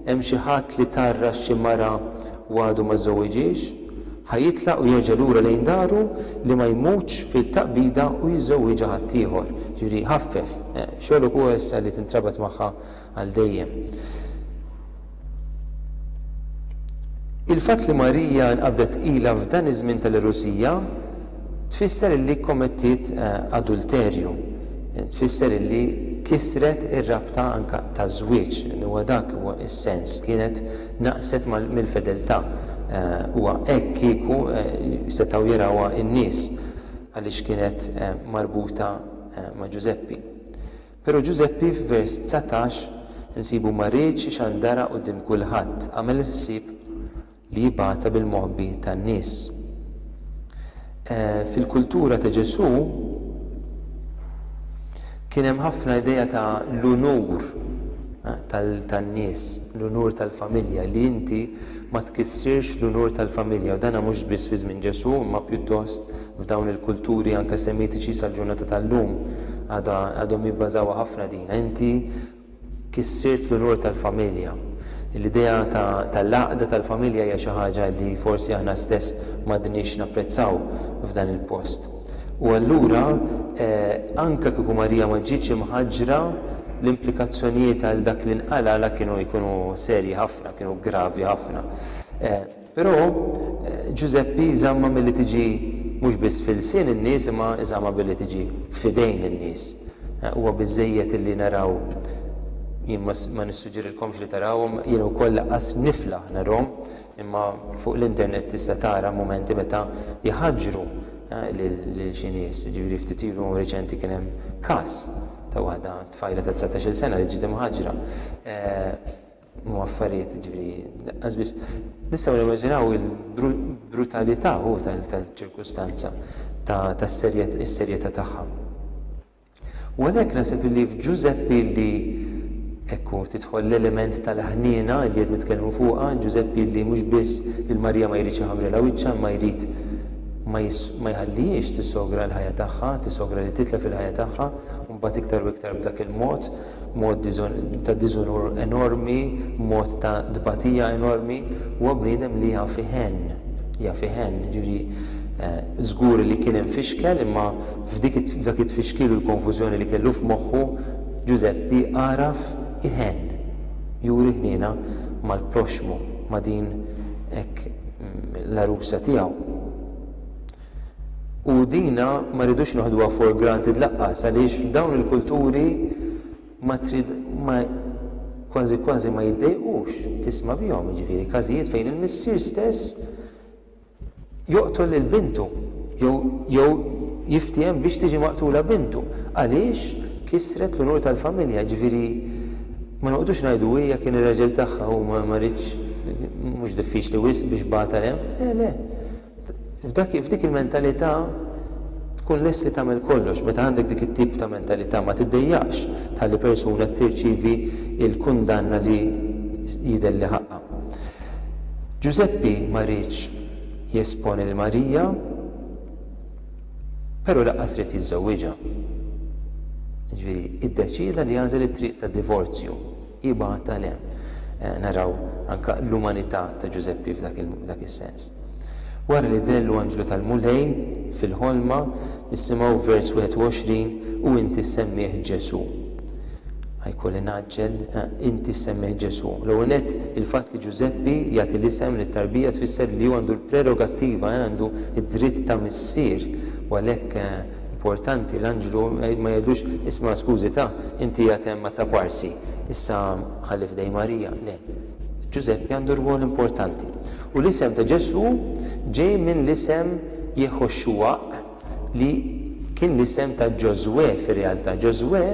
[SPEAKER 1] Hemm xi ħadd li tgħarras xi mara u għadu ma żżewwiġhiex? Ħa jitlaq u jerġa' lura lejn daru li ma jmutx fit-taqbida u jiżżewwiġha ħaddieħor, jiġifieri jħaffef, xogħlok hu issa li tintrabat magħha għal dejjem. Il-fatt li Marija nqabdet tqila f'dan iż-żmien tal-irusija tfisser li kkommettiet adulterju, tfisser li kisret ir-rabta anke taż-żwieġ, huwa dak huwa s-sens, kienet naqset mill-fedeltà. Huwa hekk kieku setgħu jarawha n-nies għaliex kienet marbuta ma' Ġużeppi. Però Ġużeppi f'vers dsatax insibu ma riedx ixandarha quddiem kulħadd, għamel il-ħsieb li jibgħatha bil-moħbi tan-nies. Fil-kultura ta' Ġesù kien hemm ħafna idea ta' l-unur tan-nies, l-unur tal-familja, li inti ma tkissirx l-unur tal-familja. U dan mhux biss fi żmien Ġesù, imma pjuttost f'dawn il-kulturi anke semitiċi sal-ġurnata tal-lum għadha għadhom jibbażawha ħafna din. Inti Kissirt l-unur tal-familja. L-idea tal-għaqda tal-familja hija xi ħaġa li forsi aħna stess m'għadniex napprezzaw f'dan il-post. U allura, anke kieku Marija ma ġietx imħaġġra, l-implikazzjonijiet għal dak li nqal' għalha kienu jkunu serji ħafna, kienu gravi ħafna. Però, Ġużeppi żammha milli tiġi mhux biss f'ilsien in-nies imma żammha billi tiġi f'idejn in-nies. Huwa biżżejjed illi naraw, jien ma nissuġġerilkomx li tarawhom, jien ukoll laqqas niflaħ narahom, imma fuq l-internet tista' tara mumenti meta jħaġġru lil xi nies. Jiġifieri ftit ilu riċenti kien hemm każ ta' waħda tfajla ta' dsatax-il sena li ġiet imħaġġra. u affarijiet ġviri, għazbis, nistaw nimmaġinaw il-brutalità u tal-ċirkustanza ta' serjeta tagħha. U għalhekk nasib li f'Ġużeppi li ekku titħol l-element tal-ħniena li qed nitkellmu fuqha, Ġużeppi li mhux biss il Marija ma jridx iħamrilha wiċċha ma jrid ma jħallihiex tisogra l-ħajja tagħha, tisogra li titla fil-ħajja tagħha, mbagħad iktar u iktar b'dak il-mod b'mod ta' diżunur enormi, b'mod ta' tbatija enormi, huwa bniedem li jaf iħenn, jaf iħenn. Jiġifieri, żgur li kien hemm fixkel, imma f'dik it, f'dak it-tfixkil u l-konfużjoni li kellu f'moħħu, Ġużeppi għaraf iħenn, juri ħniena mal-proxxmu, ma' din hekk l-għarusa tiegħu. U dina ma rridux noħduha for granted lanqas għaliex f'dawn il-kulturi ma trid ma kważi kważi ma jiddejqux tisma' bihom, jiġifieri każijiet fejn il-missier stess joqtol lil bintu jew jew jiftiehem biex tiġi maqtula bintu għaliex kisret l-unur tal-familja, jiġifieri ma noqgħodux ngħidu hija kien ir-raġel tagħha u ma ma ridx mhux diffiċli wisq biex bagħatha hemm, le le. F'dik il-mentalità tkun lest li tagħmel kollox. Meta għandek dik it-tip ta' mentalità ma tiddejjaqx tħalli persuna tirċievi l-kundanna li jidher li ħaqqha. Ġużeppi ma riedx jesponi lil Marija, però lanqas ried jiżżewwiġha. Jiġifieri, iddeċieda li jagħżel it-triq tad-divorzju. Ibgħat għal hemm. Naraw anke l-umanità ta' Ġużeppi f'dak is-sens. Wara li dehlu anġlu tal-Mulej fil-ħolma, nisimgħu f'vers 21, U inti ssemmih Ġesù. Ħa jkolli ngħaġġel, inti ssemmih Ġesù. L-ewwel nett, il-fatt li Ġużeppi jagħti l-isem lit-tarbija tfisser li hu għandu l-prerogattiva, għandu d-dritt ta' missier, u għalhekk, Importanti l-anġlu ma jgħidux, isma' skużi ta', inti qiegħed hemm ma' taparsi, issa ħalli f'idejn Marija, le. Ġużeppi għandu rwol importanti. U l-isem ta' Ġesù ġej minn l-isem Jeħoxuaq li kien l-isem ta' Ġożwè fir-realtà. Ġożwè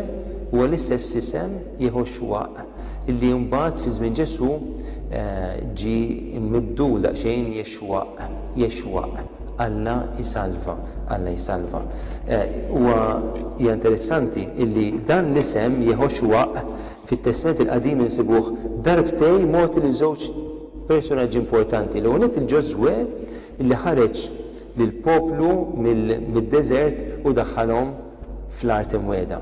[SPEAKER 1] huwa l-istess isem Jeħoxuaq li mbagħad fi żmien Ġesù ġie mibdul daqsxejn Jexwaq, Jexwaq, Alla jsalva, Alla jsalva. Huwa, hija interessanti illi dan l-isem Jehoxwaq fit-Testment il-Qadim insibuh darbtej mogħti lil żewġ persunaġġi importanti. L-ewwel nett il-Ġożwè illi ħareġ lill-poplu mid-deżert u daħħalhom fl-Art Imwiegħda.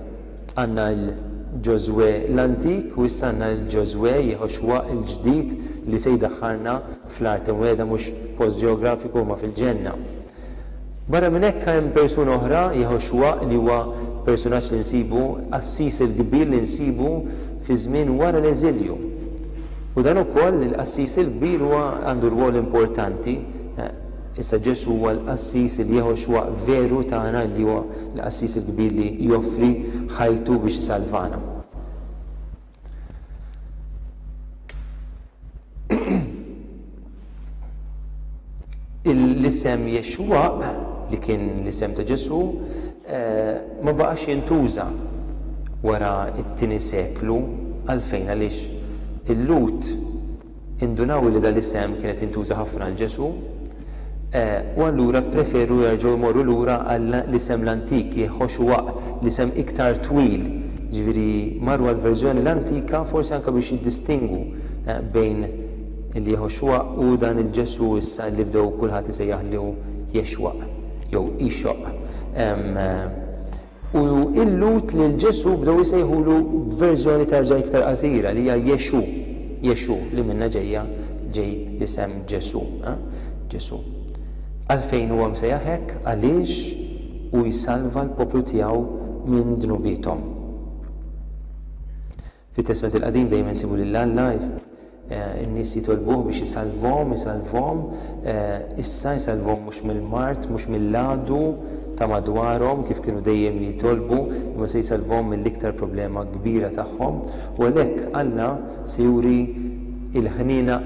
[SPEAKER 1] Għandna l-Ġożwè l-antik u issa għandna l-Ġożwè, Jehoxwaq, il-ġdid li se jdaħħalna Fl-art imwiegħda mhux post ġeografiku huma fil-Ġenna. Barra minn hekk hemm persuna oħra, Jeħoxwa, li huwa persunaġġ li nsibu, qassis il-kbir li nsibu fiż-żmien wara l-eżilju. U dan ukoll, il-qassis il-kbir huwa għandu rwol importanti. Issa Ġesù huwa l-qassis, il-Jeħoxwa veru tagħna li huwa l-qassis il-kbir li joffri ħajtu biex isalvana. L-isem Jexwa, li kien l-isem ta' Ġesù, eh, ma baqax jintuża wara t-tieni seklu għalfejn għaliex il-Lut Indunaw li dal-isem kien qed jintuża ħafna għal Ġesù, u allura ppreferu jerġgħu jmorru lura għall-isem l-antik, Jeħoxuaq, l-isem iktar twil, jiġifieri marru għall-verżjoni l-antika forsi anke biex jiddistingwu bejn il-Jeħoxuaq u dan il-Ġesù issa li bdew kulħadd isejjaħlu Jexwaq jew Ixoq. U il-Lhud lil Ġesù bdew isejħulu b'verżjoni terġa' iktar qasira, li hija Jexù, Yeshu, li minnha ġejja ġej l-isem Ġesù, Ġesù. Għalfejn huwa msejjaħ hekk? Għaliex hu jsalva l-poplu tiegħu minn dnubiethom. Fit-Testment il-Qadim dejjem insibu lil Alla, in-nies jitolbuh biex isalvhom, isalvhom, issa jsalvhom mhux mill-mard, mhux mill-għadu ta' madwarhom kif kienu dejjem jitolbu, imma se jsalvhom mill-iktar problema kbira tagħhom. U għalhekk Alla se juri l-ħniena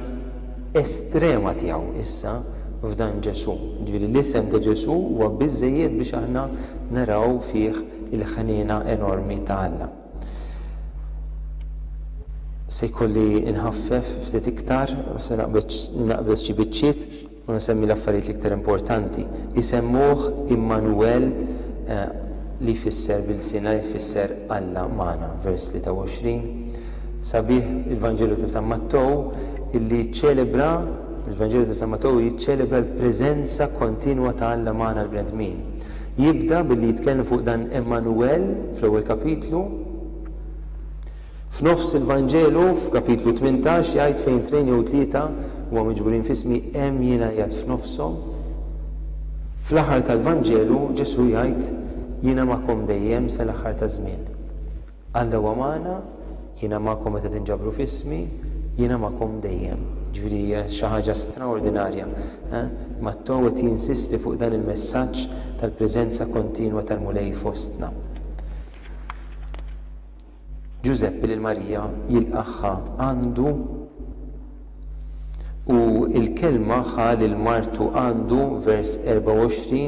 [SPEAKER 1] estrema tiegħu issa f'dan Ġesù. Jiġifieri l-isem ta' Ġesù huwa biżżejjed biex aħna naraw fih il-ħniena enormi ta' Alla. Se jkolli nħaffef ftit iktar u se naqbeż xi biċċiet u nsemmi l-affarijiet l-iktar importanti. Isemmuh Immanuwel eh, li jfisser bil-sina jfisser Alla magħna, vers 23. Sabiħ il-Vanġelu ta' San Mattow illi ċċelebra il-Vanġelu ta' San Mattow jiċċelebra l-preżenza kontinwa ta' Alla magħna l-bnedmin. Jibda billi jitkellem fuq dan Emmanuel fl-ewwel kapitlu. F'nofs il-Vanġelu, f'kapitlu tmintax, jgħid fejn tnejn jew tlieta huma miġburin f'ismi, hemm jiena qiegħed f'nofshom. Fl-aħħar tal-Vanġelu, Ġesù jgħid, Jiena magħkom dejjem sa l-aħħar taż-żmien. Għandha huwa magħna, jiena magħkom meta tinġabru f'ismi, jiena magħkom dejjem. Jiġifieri hija xi ħaġa straordinarja. Matteo qed jinsisti fuq dan il-messaġġ tal-preżenza kontinwa tal-Mulej fostna. Ġużeppi lil Marija jilqagħha għandu. U l-kelma ħa lil martu għandu, vers 24,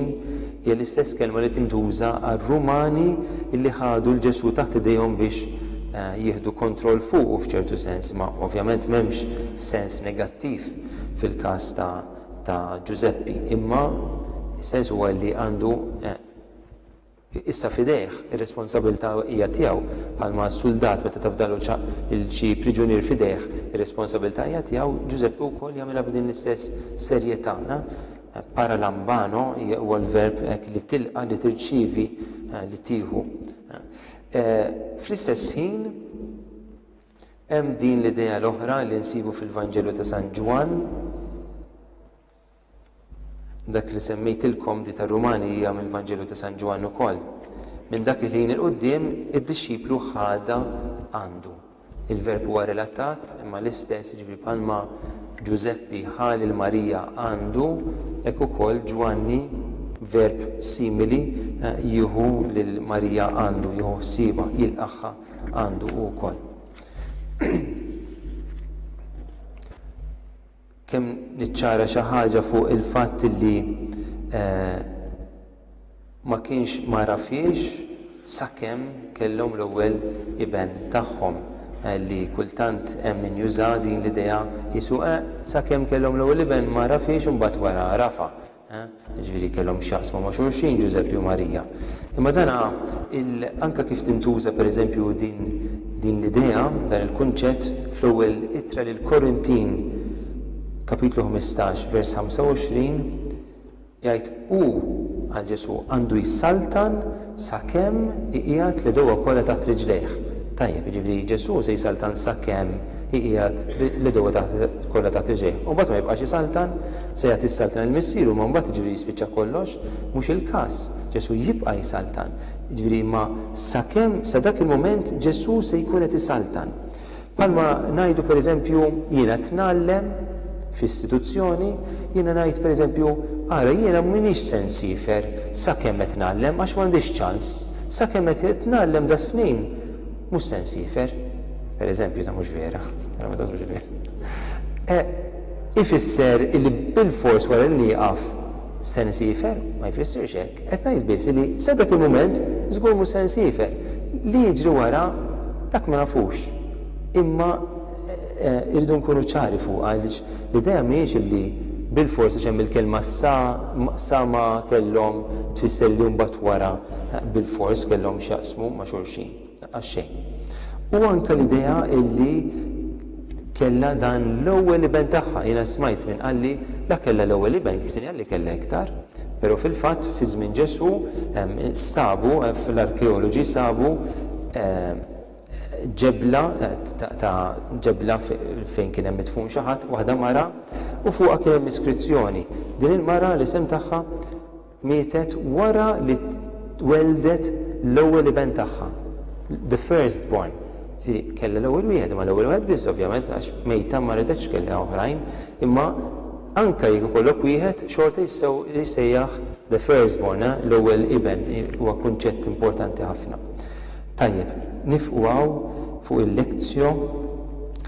[SPEAKER 1] hija l-istess kelma li tintuża għar-Rumani li ħadu 'l Ġesù taħt idejhom biex jieħdu kontroll fuqu f'ċertu sens, imma ovvjament m'hemmx sens negattiv fil-każ ta' ta' Ġużeppi, imma s-sens huwa li għandu Issa f'idejh, ir-responsabilità hija tiegħu, bħalma s-suldat meta tafdalu ċaqq lil xi priġunier f'idejh, ir-responsabilità hija tiegħu, Ġużeppi wkoll jagħmilha b'din l-istess serjetà. Paralambano huwa l-verb hekk li tilqa', li tirċievi, li tieħu. Fl-istess ħin, hemm din l-idea l-oħra li nsibu fil-Vanġelu ta' San Ġwann, Dak li semmejtilkom di tar-Rumani hija mill-Vanġelu ta' San Ġwann ukoll. Minn dak il-ħin 'il quddiem id-dixxiplu ħadha għandu. Il-verb huwa relatat, imma l-istess, jiġifieri bħalma Ġużeppi ħa lil Marija għandu, hekk ukoll Ġwanni, verb simili, jieħu lil Marija għandu, jieħu ħsiebha, jilqagħha għandu hu wkoll. Kemm niċċara xi ħaġa fuq il-fatt li ma kienx m'għarafhiex sakemm kellhom l-ewwel iben tagħhom, li kultant hemm min juża din l-idea qisu eħ, sakemm kellhom l-ewwel iben m'għarafhiex u mbagħad wara għarafha. jiġifieri kellhom x'jaqsmu ma' xulxin Ġużeppi u Marija. Imma dan il anke kif tintuża pereżempju din din l-idea, dan il-kunċett fl-Ewwel Ittra lill-Korintin, Kapitlu 15, vers 25, jgħid, Hu, għal Ġesù, għandu jsaltan Sakemm iqiegħed l-idewwa kollha taħt riġlejh. Tajjeb, jiġifieri Ġesù se jsaltan sakemm iqiegħed l-idewwa taħt kollha taħt riġlejh. U mbagħad ma jibqax isaltan? Se jagħti s-saltna lill-Missieru imma mbagħad jiġifieri jispiċċa kollox? Mhux il-każ. Ġesù jibqa' jsaltan. Jiġifieri imma sakemm sa dak il-mument Ġesù se jkun qed isaltan. Bħalma ngħidu pereżempju, jiena qed ngħallem f'istituzzjoni, jiena ngħid pereżempju, ara jiena m'iniex se nsiefer sakemm qed ngħallem għax m'għandix ċans, sakemm qed ngħallem das-snin mhux se nsiefer. Pereżempju ta' mhux vera. E, ifisser illi bilfors wara li nieqaf se nsiefer? Ma jfissirx hekk. Qed ngħid biss li sa dak il-mument żgur mhux se nsiefer. Li jiġri wara dak ma nafux. Imma irridu nkunu ċari fuqha għaliex l-idea mhijiex li bilfors għax hemm il-kelma sa, sa ma kellhom tfisser li mbagħad wara bilfors kellhom x'jaqsmu ma' xulxin. Għax-xejn. U anke l-idea illi kellha dan l-ewwel iben tagħha, jiena smajt min qalli la kellha l-ewwel iben, kisni qalli kellha iktar. Però fil-fatt fi żmien Ġesù sabu, l-arkeoloġi sabu ġebla ta' ġebla fejn kien hemm midfun xi ħadd, waħda mara, u fuqha kien hemm iskrizzjoni. Din il-mara l-isem tagħha Mietet wara li welldet l-ewwel iben tagħha, the first born. Ġifieri kellha l-ewwel wieħed, imma l-ewwel wieħed biss ovvjament għax mejta ma ridetx kellha oħrajn, imma anke jekk ikollok wieħed xorta jissejjaħ the first born, l-ewwel iben, huwa kunċett importanti ħafna. Tajjeb, niefqu hawn fuq il-lectio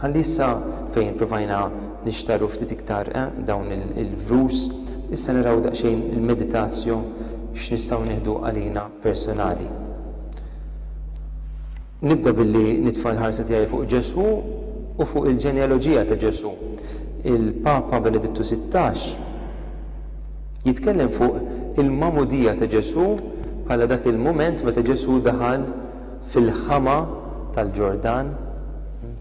[SPEAKER 1] ħalli issa fejn provajna nixtarru ftit iktar dawn il-verus, issa naraw daqsxejn il-meditatio x'nistgħu nieħdu għalina personali. Nibda billi nitfa' l-ħarsa tiegħi fuq Ġesù u fuq il-ġenealoġija ta' Ġesù. Il-Papa Benedittu Sittax. Jitkellem fuq il-magħmudija ta' Ġesù bħala dak il-mument meta Ġesù daħal fil-ħama tal-Ġordan,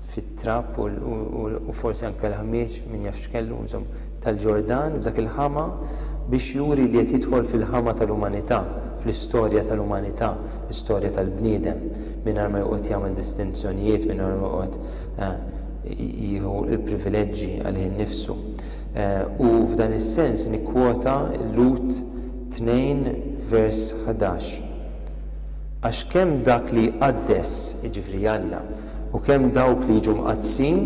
[SPEAKER 1] fit-trab u forsi anke l-ħmieġ, min jaf x'kellu, insomma, tal-Ġordan, f'dak il-ħama, biex juri li qed jidħol fil-ħama tal-umanità, fl-istorja tal-umanità, l-istorja tal-bniedem, mingħajr ma joqgħod jagħmel distinzjonijiet, mingħajr ma joqgħod jieħu l-privileġġi għalih innifsu. U f'dan is-sens nikkwota Lut tnejn vers ħdax, Għax kemm dak li jqaddes, jiġifieri Alla, u kemm dawk li jiġu mqaddsin,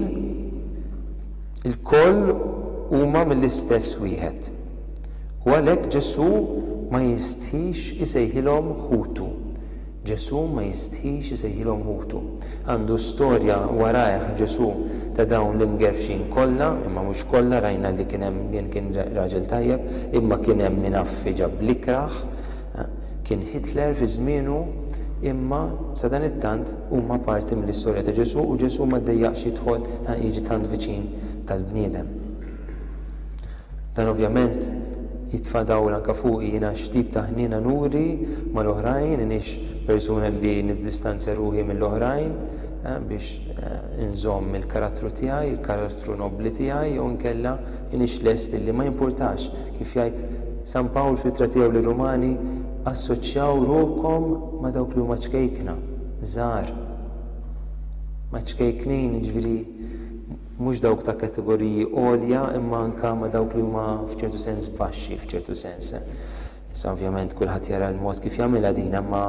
[SPEAKER 1] ilkoll huma mill-istess Wieħed. U għalhekk Ġesù ma jistħix isejħilhom ħutu. Ġesù ma jistħix isejħilhom ħutu. Għandu storja warajh Ġesù ta' dawn l-imgerfxin kollha, imma mhux kollha, rajna li kien hemm min kien raġel tajjeb, imma kien hemm min affi ġab l-ikrah, kien Hitler fi żmienu, imma sadanittant huma parti mill-istorja ta' Ġesù u Ġesù ma ddejjaqx jidħol, jiġi tant viċin tal-bniedem. Dan ovvjament jitfa' dawl anke fuqi, jiena x'tip ta' ħniena nuri mal-oħrajn, iniex persuna li niddistanzja ruħi mill-oħrajn biex inżomm il-karattru tiegħi, il-karattru nobbli tiegħi jew inkella iniex lest li ma jimpurtax, kif jgħid San Pawl fl-Ittra tiegħu lir-Rumani, assoċjaw ruħkom ma' dawk li huma ċkejkna, żgħar. Ma' ċkejknin, jiġifieri, mhux dawk ta' kategoriji għolja imma anke ma' dawk li huma f'ċertu sens baxxi f'ċertu sens. Issa ovvjament kulħadd jara l-mod kif jagħmilha din imma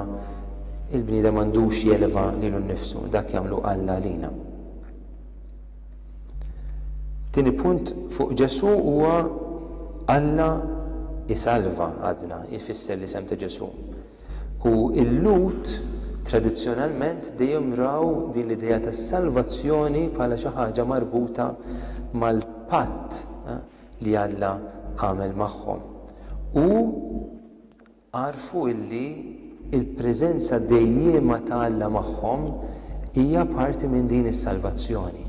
[SPEAKER 1] il-bniedem m'għandux jeleva lilu nnifsu, dak jagħmlu Alla għalina. Tieni punt fuq Ġesù huwa Alla isalva għadna, jfisser l-isem ta' Ġesù. U l-Lhud tradizzjonalment dejjem raw din l-idea tas-salvazzjoni bħala xi ħaġa marbuta mal-patt li Alla għamel magħhom. U għarfu li l-preżenza dejjiema ta' Alla magħhom hija parti minn din is-salvazzjoni.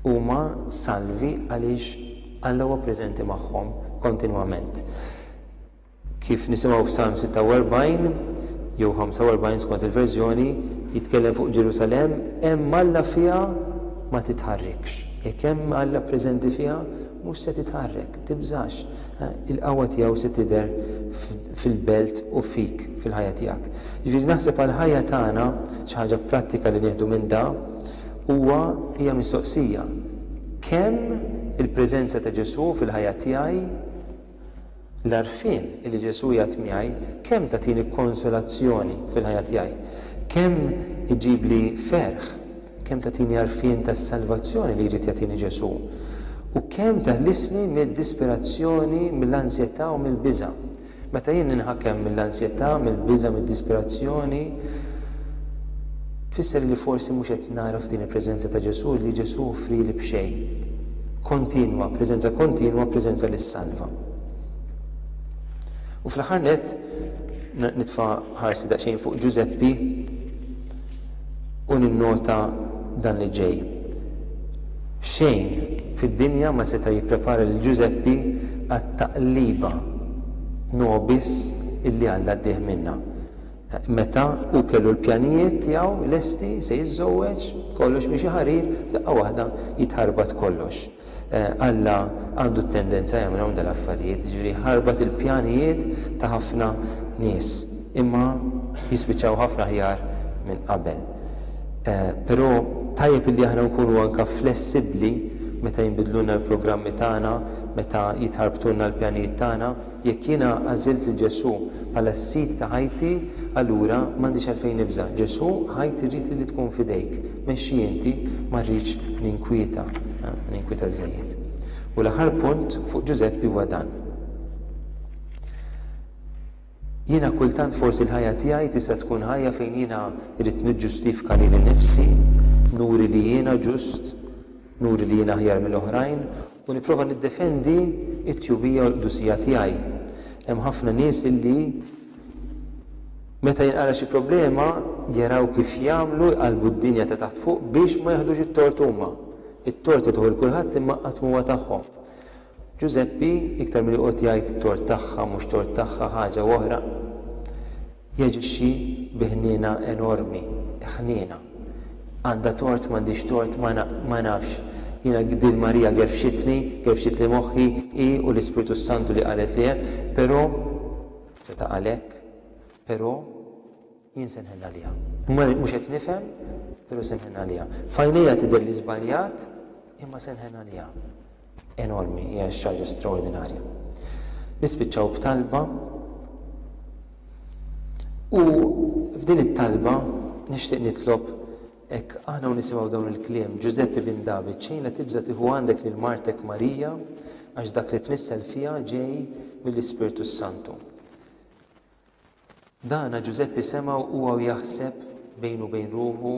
[SPEAKER 1] Huma salvi għaliex Alla huwa preżenti magħhom kontinwament. Kif nisimgħu f'Salm 46, jew 45 skont il-verżjoni, jitkellem fuq Ġerusalemm, Hemm Alla fiha, ma titħarrikx. Jekk hemm Alla preżenti fiha, mhux se titħarrek, tibżax. Il-qawwa tiegħu se tidher fil-belt u fik, fil-ħajja tiegħek. Jiġifieri naħseb għall-ħajja tagħna xi ħaġa prattika li nieħdu minn da huwa hija mistoqsija, kemm il-preżenza ta' Ġesù fil-ħajja tiegħi, L-għarfien li Ġesù jgħadd miegħi kemm tagħtini konsolazzjoni fil-ħajja tiegħi, kemm iġibli ferħ, kemm tagħtini għarfien tas-salvazzjoni li jrid jagħtini Ġesù, u kemm teħlisni mid-disperazzjoni, mill-ansjetà u mill-biża'. Meta jien ninħakem mill-ansjetà, mill-biża', mid-disperazzjoni, Tfisser li forsi mhux qed nagħraf din il-preżenza ta' Ġesù li Ġesù offrieli b'xejn. Kontinwa, preżenza kontinwa, preżenza li ssalva. U fl-aħħar nett nitfa' ħarsi daqsxejn fuq Ġużeppi u ninnota dan li ġej. Xejn fid-dinja ma seta' jipprepara lil Ġużeppi għat-taqliba nobis illi Alla ddieh minnha. Meta hu kellu l-pjanijiet tiegħu lesti, se jiżżewweġ, kollox miexi ħarir, f'daqqa waħda jitħarbat kollox. Alla għandu t-tendenza jagħmilhom dal-affarijiet, jiġifieri jħarbat il-pjanijiet ta' ħafna nies, imma jispiċċaw ħafna aħjar minn qabel. Però tajjeb illi aħna nkunu anke flessibbli meta jinbidlulna l-programmi tagħna, meta jitħarbtulna l-pjanijiet tagħna. Jekk jiena għażilt lil Ġesù bħala s-Sid ta' ħajti, allura m'għandix għalfejn nibża'. Ġesù, ħajt irrid lili tkun f'idejk. Mexxi inti, ma rridx ninkwieta, ninkwieta żżejjed. U l-aħħar punt fuq Ġużeppi huwa dan. Jiena kultant forsi l-ħajja tiegħi tista' tkun ħajja fejn jiena rrid niġġustifika lili nnifsi, nuri li jiena ġust, nuri li jiena aħjar mill-oħrajn, U nipprova niddefendi t-tjubija u l-qdusija tiegħi. Hemm ħafna nies illi meta jinqala' xi problema jaraw kif jagħmlu jqallbu d-dinja ta' taħt fuq biex ma jiħdux it-tort huma. It-tort jagħtuh lil kulħadd imma qatt m'huwa tagħhom. Ġużeppi iktar milli joqgħod jgħid tort tagħha mhux tort tagħha ħaġa u oħra. Jaġixxi bi ħniena enormi, ħniena. Għandha tort, m'għandhiex tort, ma na, ma nafx. Jiena din Marija gerfxitni, gerfxitli moħħi, hi u l-Ispirtu s-Santu li qalet li hemm, però, seta' qal hekk, però jien se nħenn għaliha. Ma, mhux qed nifhem, però se nħenn għaliha. F'għajnejha tidher li żbaljat, imma se nħenn għaliha. enormi, hija xi ħaġa straordinarja. Nispiċċaw b'talba u f'din it-talba nixtieq nitlob hekk aħna u nisimgħu dawn il-kliem Ġużeppi bin David xejn la tibża' tieħu għandek lil martek Marija għax dak li tnissel fiha ġej mill-Ispirtu s-Santu. Dana Ġużeppi sema' u huwa jaħseb bejnu u bejn ruħu,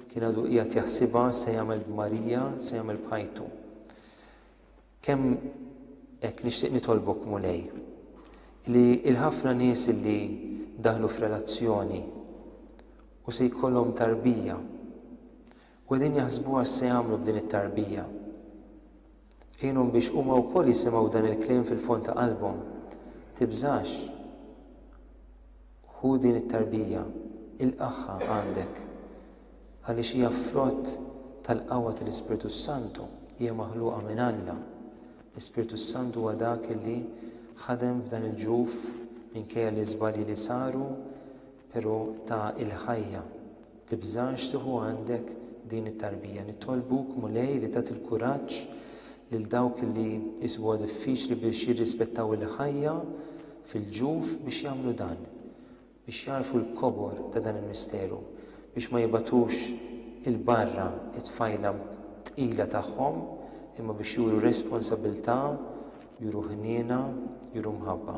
[SPEAKER 1] kien għadu qiegħed jaħsibha x'se jagħmel b'Marija, x'se jagħmel b'ħajtu. Kemm hekk nixtieq nitolbok Mulej li l-ħafna nies li daħlu f'relazzjoni u se jkollhom tarbija U qegħdin jaħsbuha x'se jagħmlu b'din it-tarbija. Għinhom biex huma wkoll jisimgħu dan il-kliem fil-fond ta' qalbhom, Tibżax, ħu din it-tarbija, ilqagħha għandek, għaliex hija frott tal-qawwa tal-Ispirtu s-Santu, hija maħluqa minn Alla. L-Ispirtu s-Santu huwa dak li ħadem f'dan il-ġuf minkejja l-iżbalji li saru, Pero ta il-ħajja, tibżax tieħu għandek din it-tarbija. Nitolbuk, Mulej, li tagħti l-kuraġġ lil dawk li jisbu huwa diffiċli biex jirrispettaw il-ħajja fil-ġuf biex jagħmlu dan, biex jagħrfu l-kobor ta' dan il-misteru, biex ma jibatux il-barra it-tfajla tqila tagħhom imma biex juru responsabilità, juru ħniena, juru mħabba.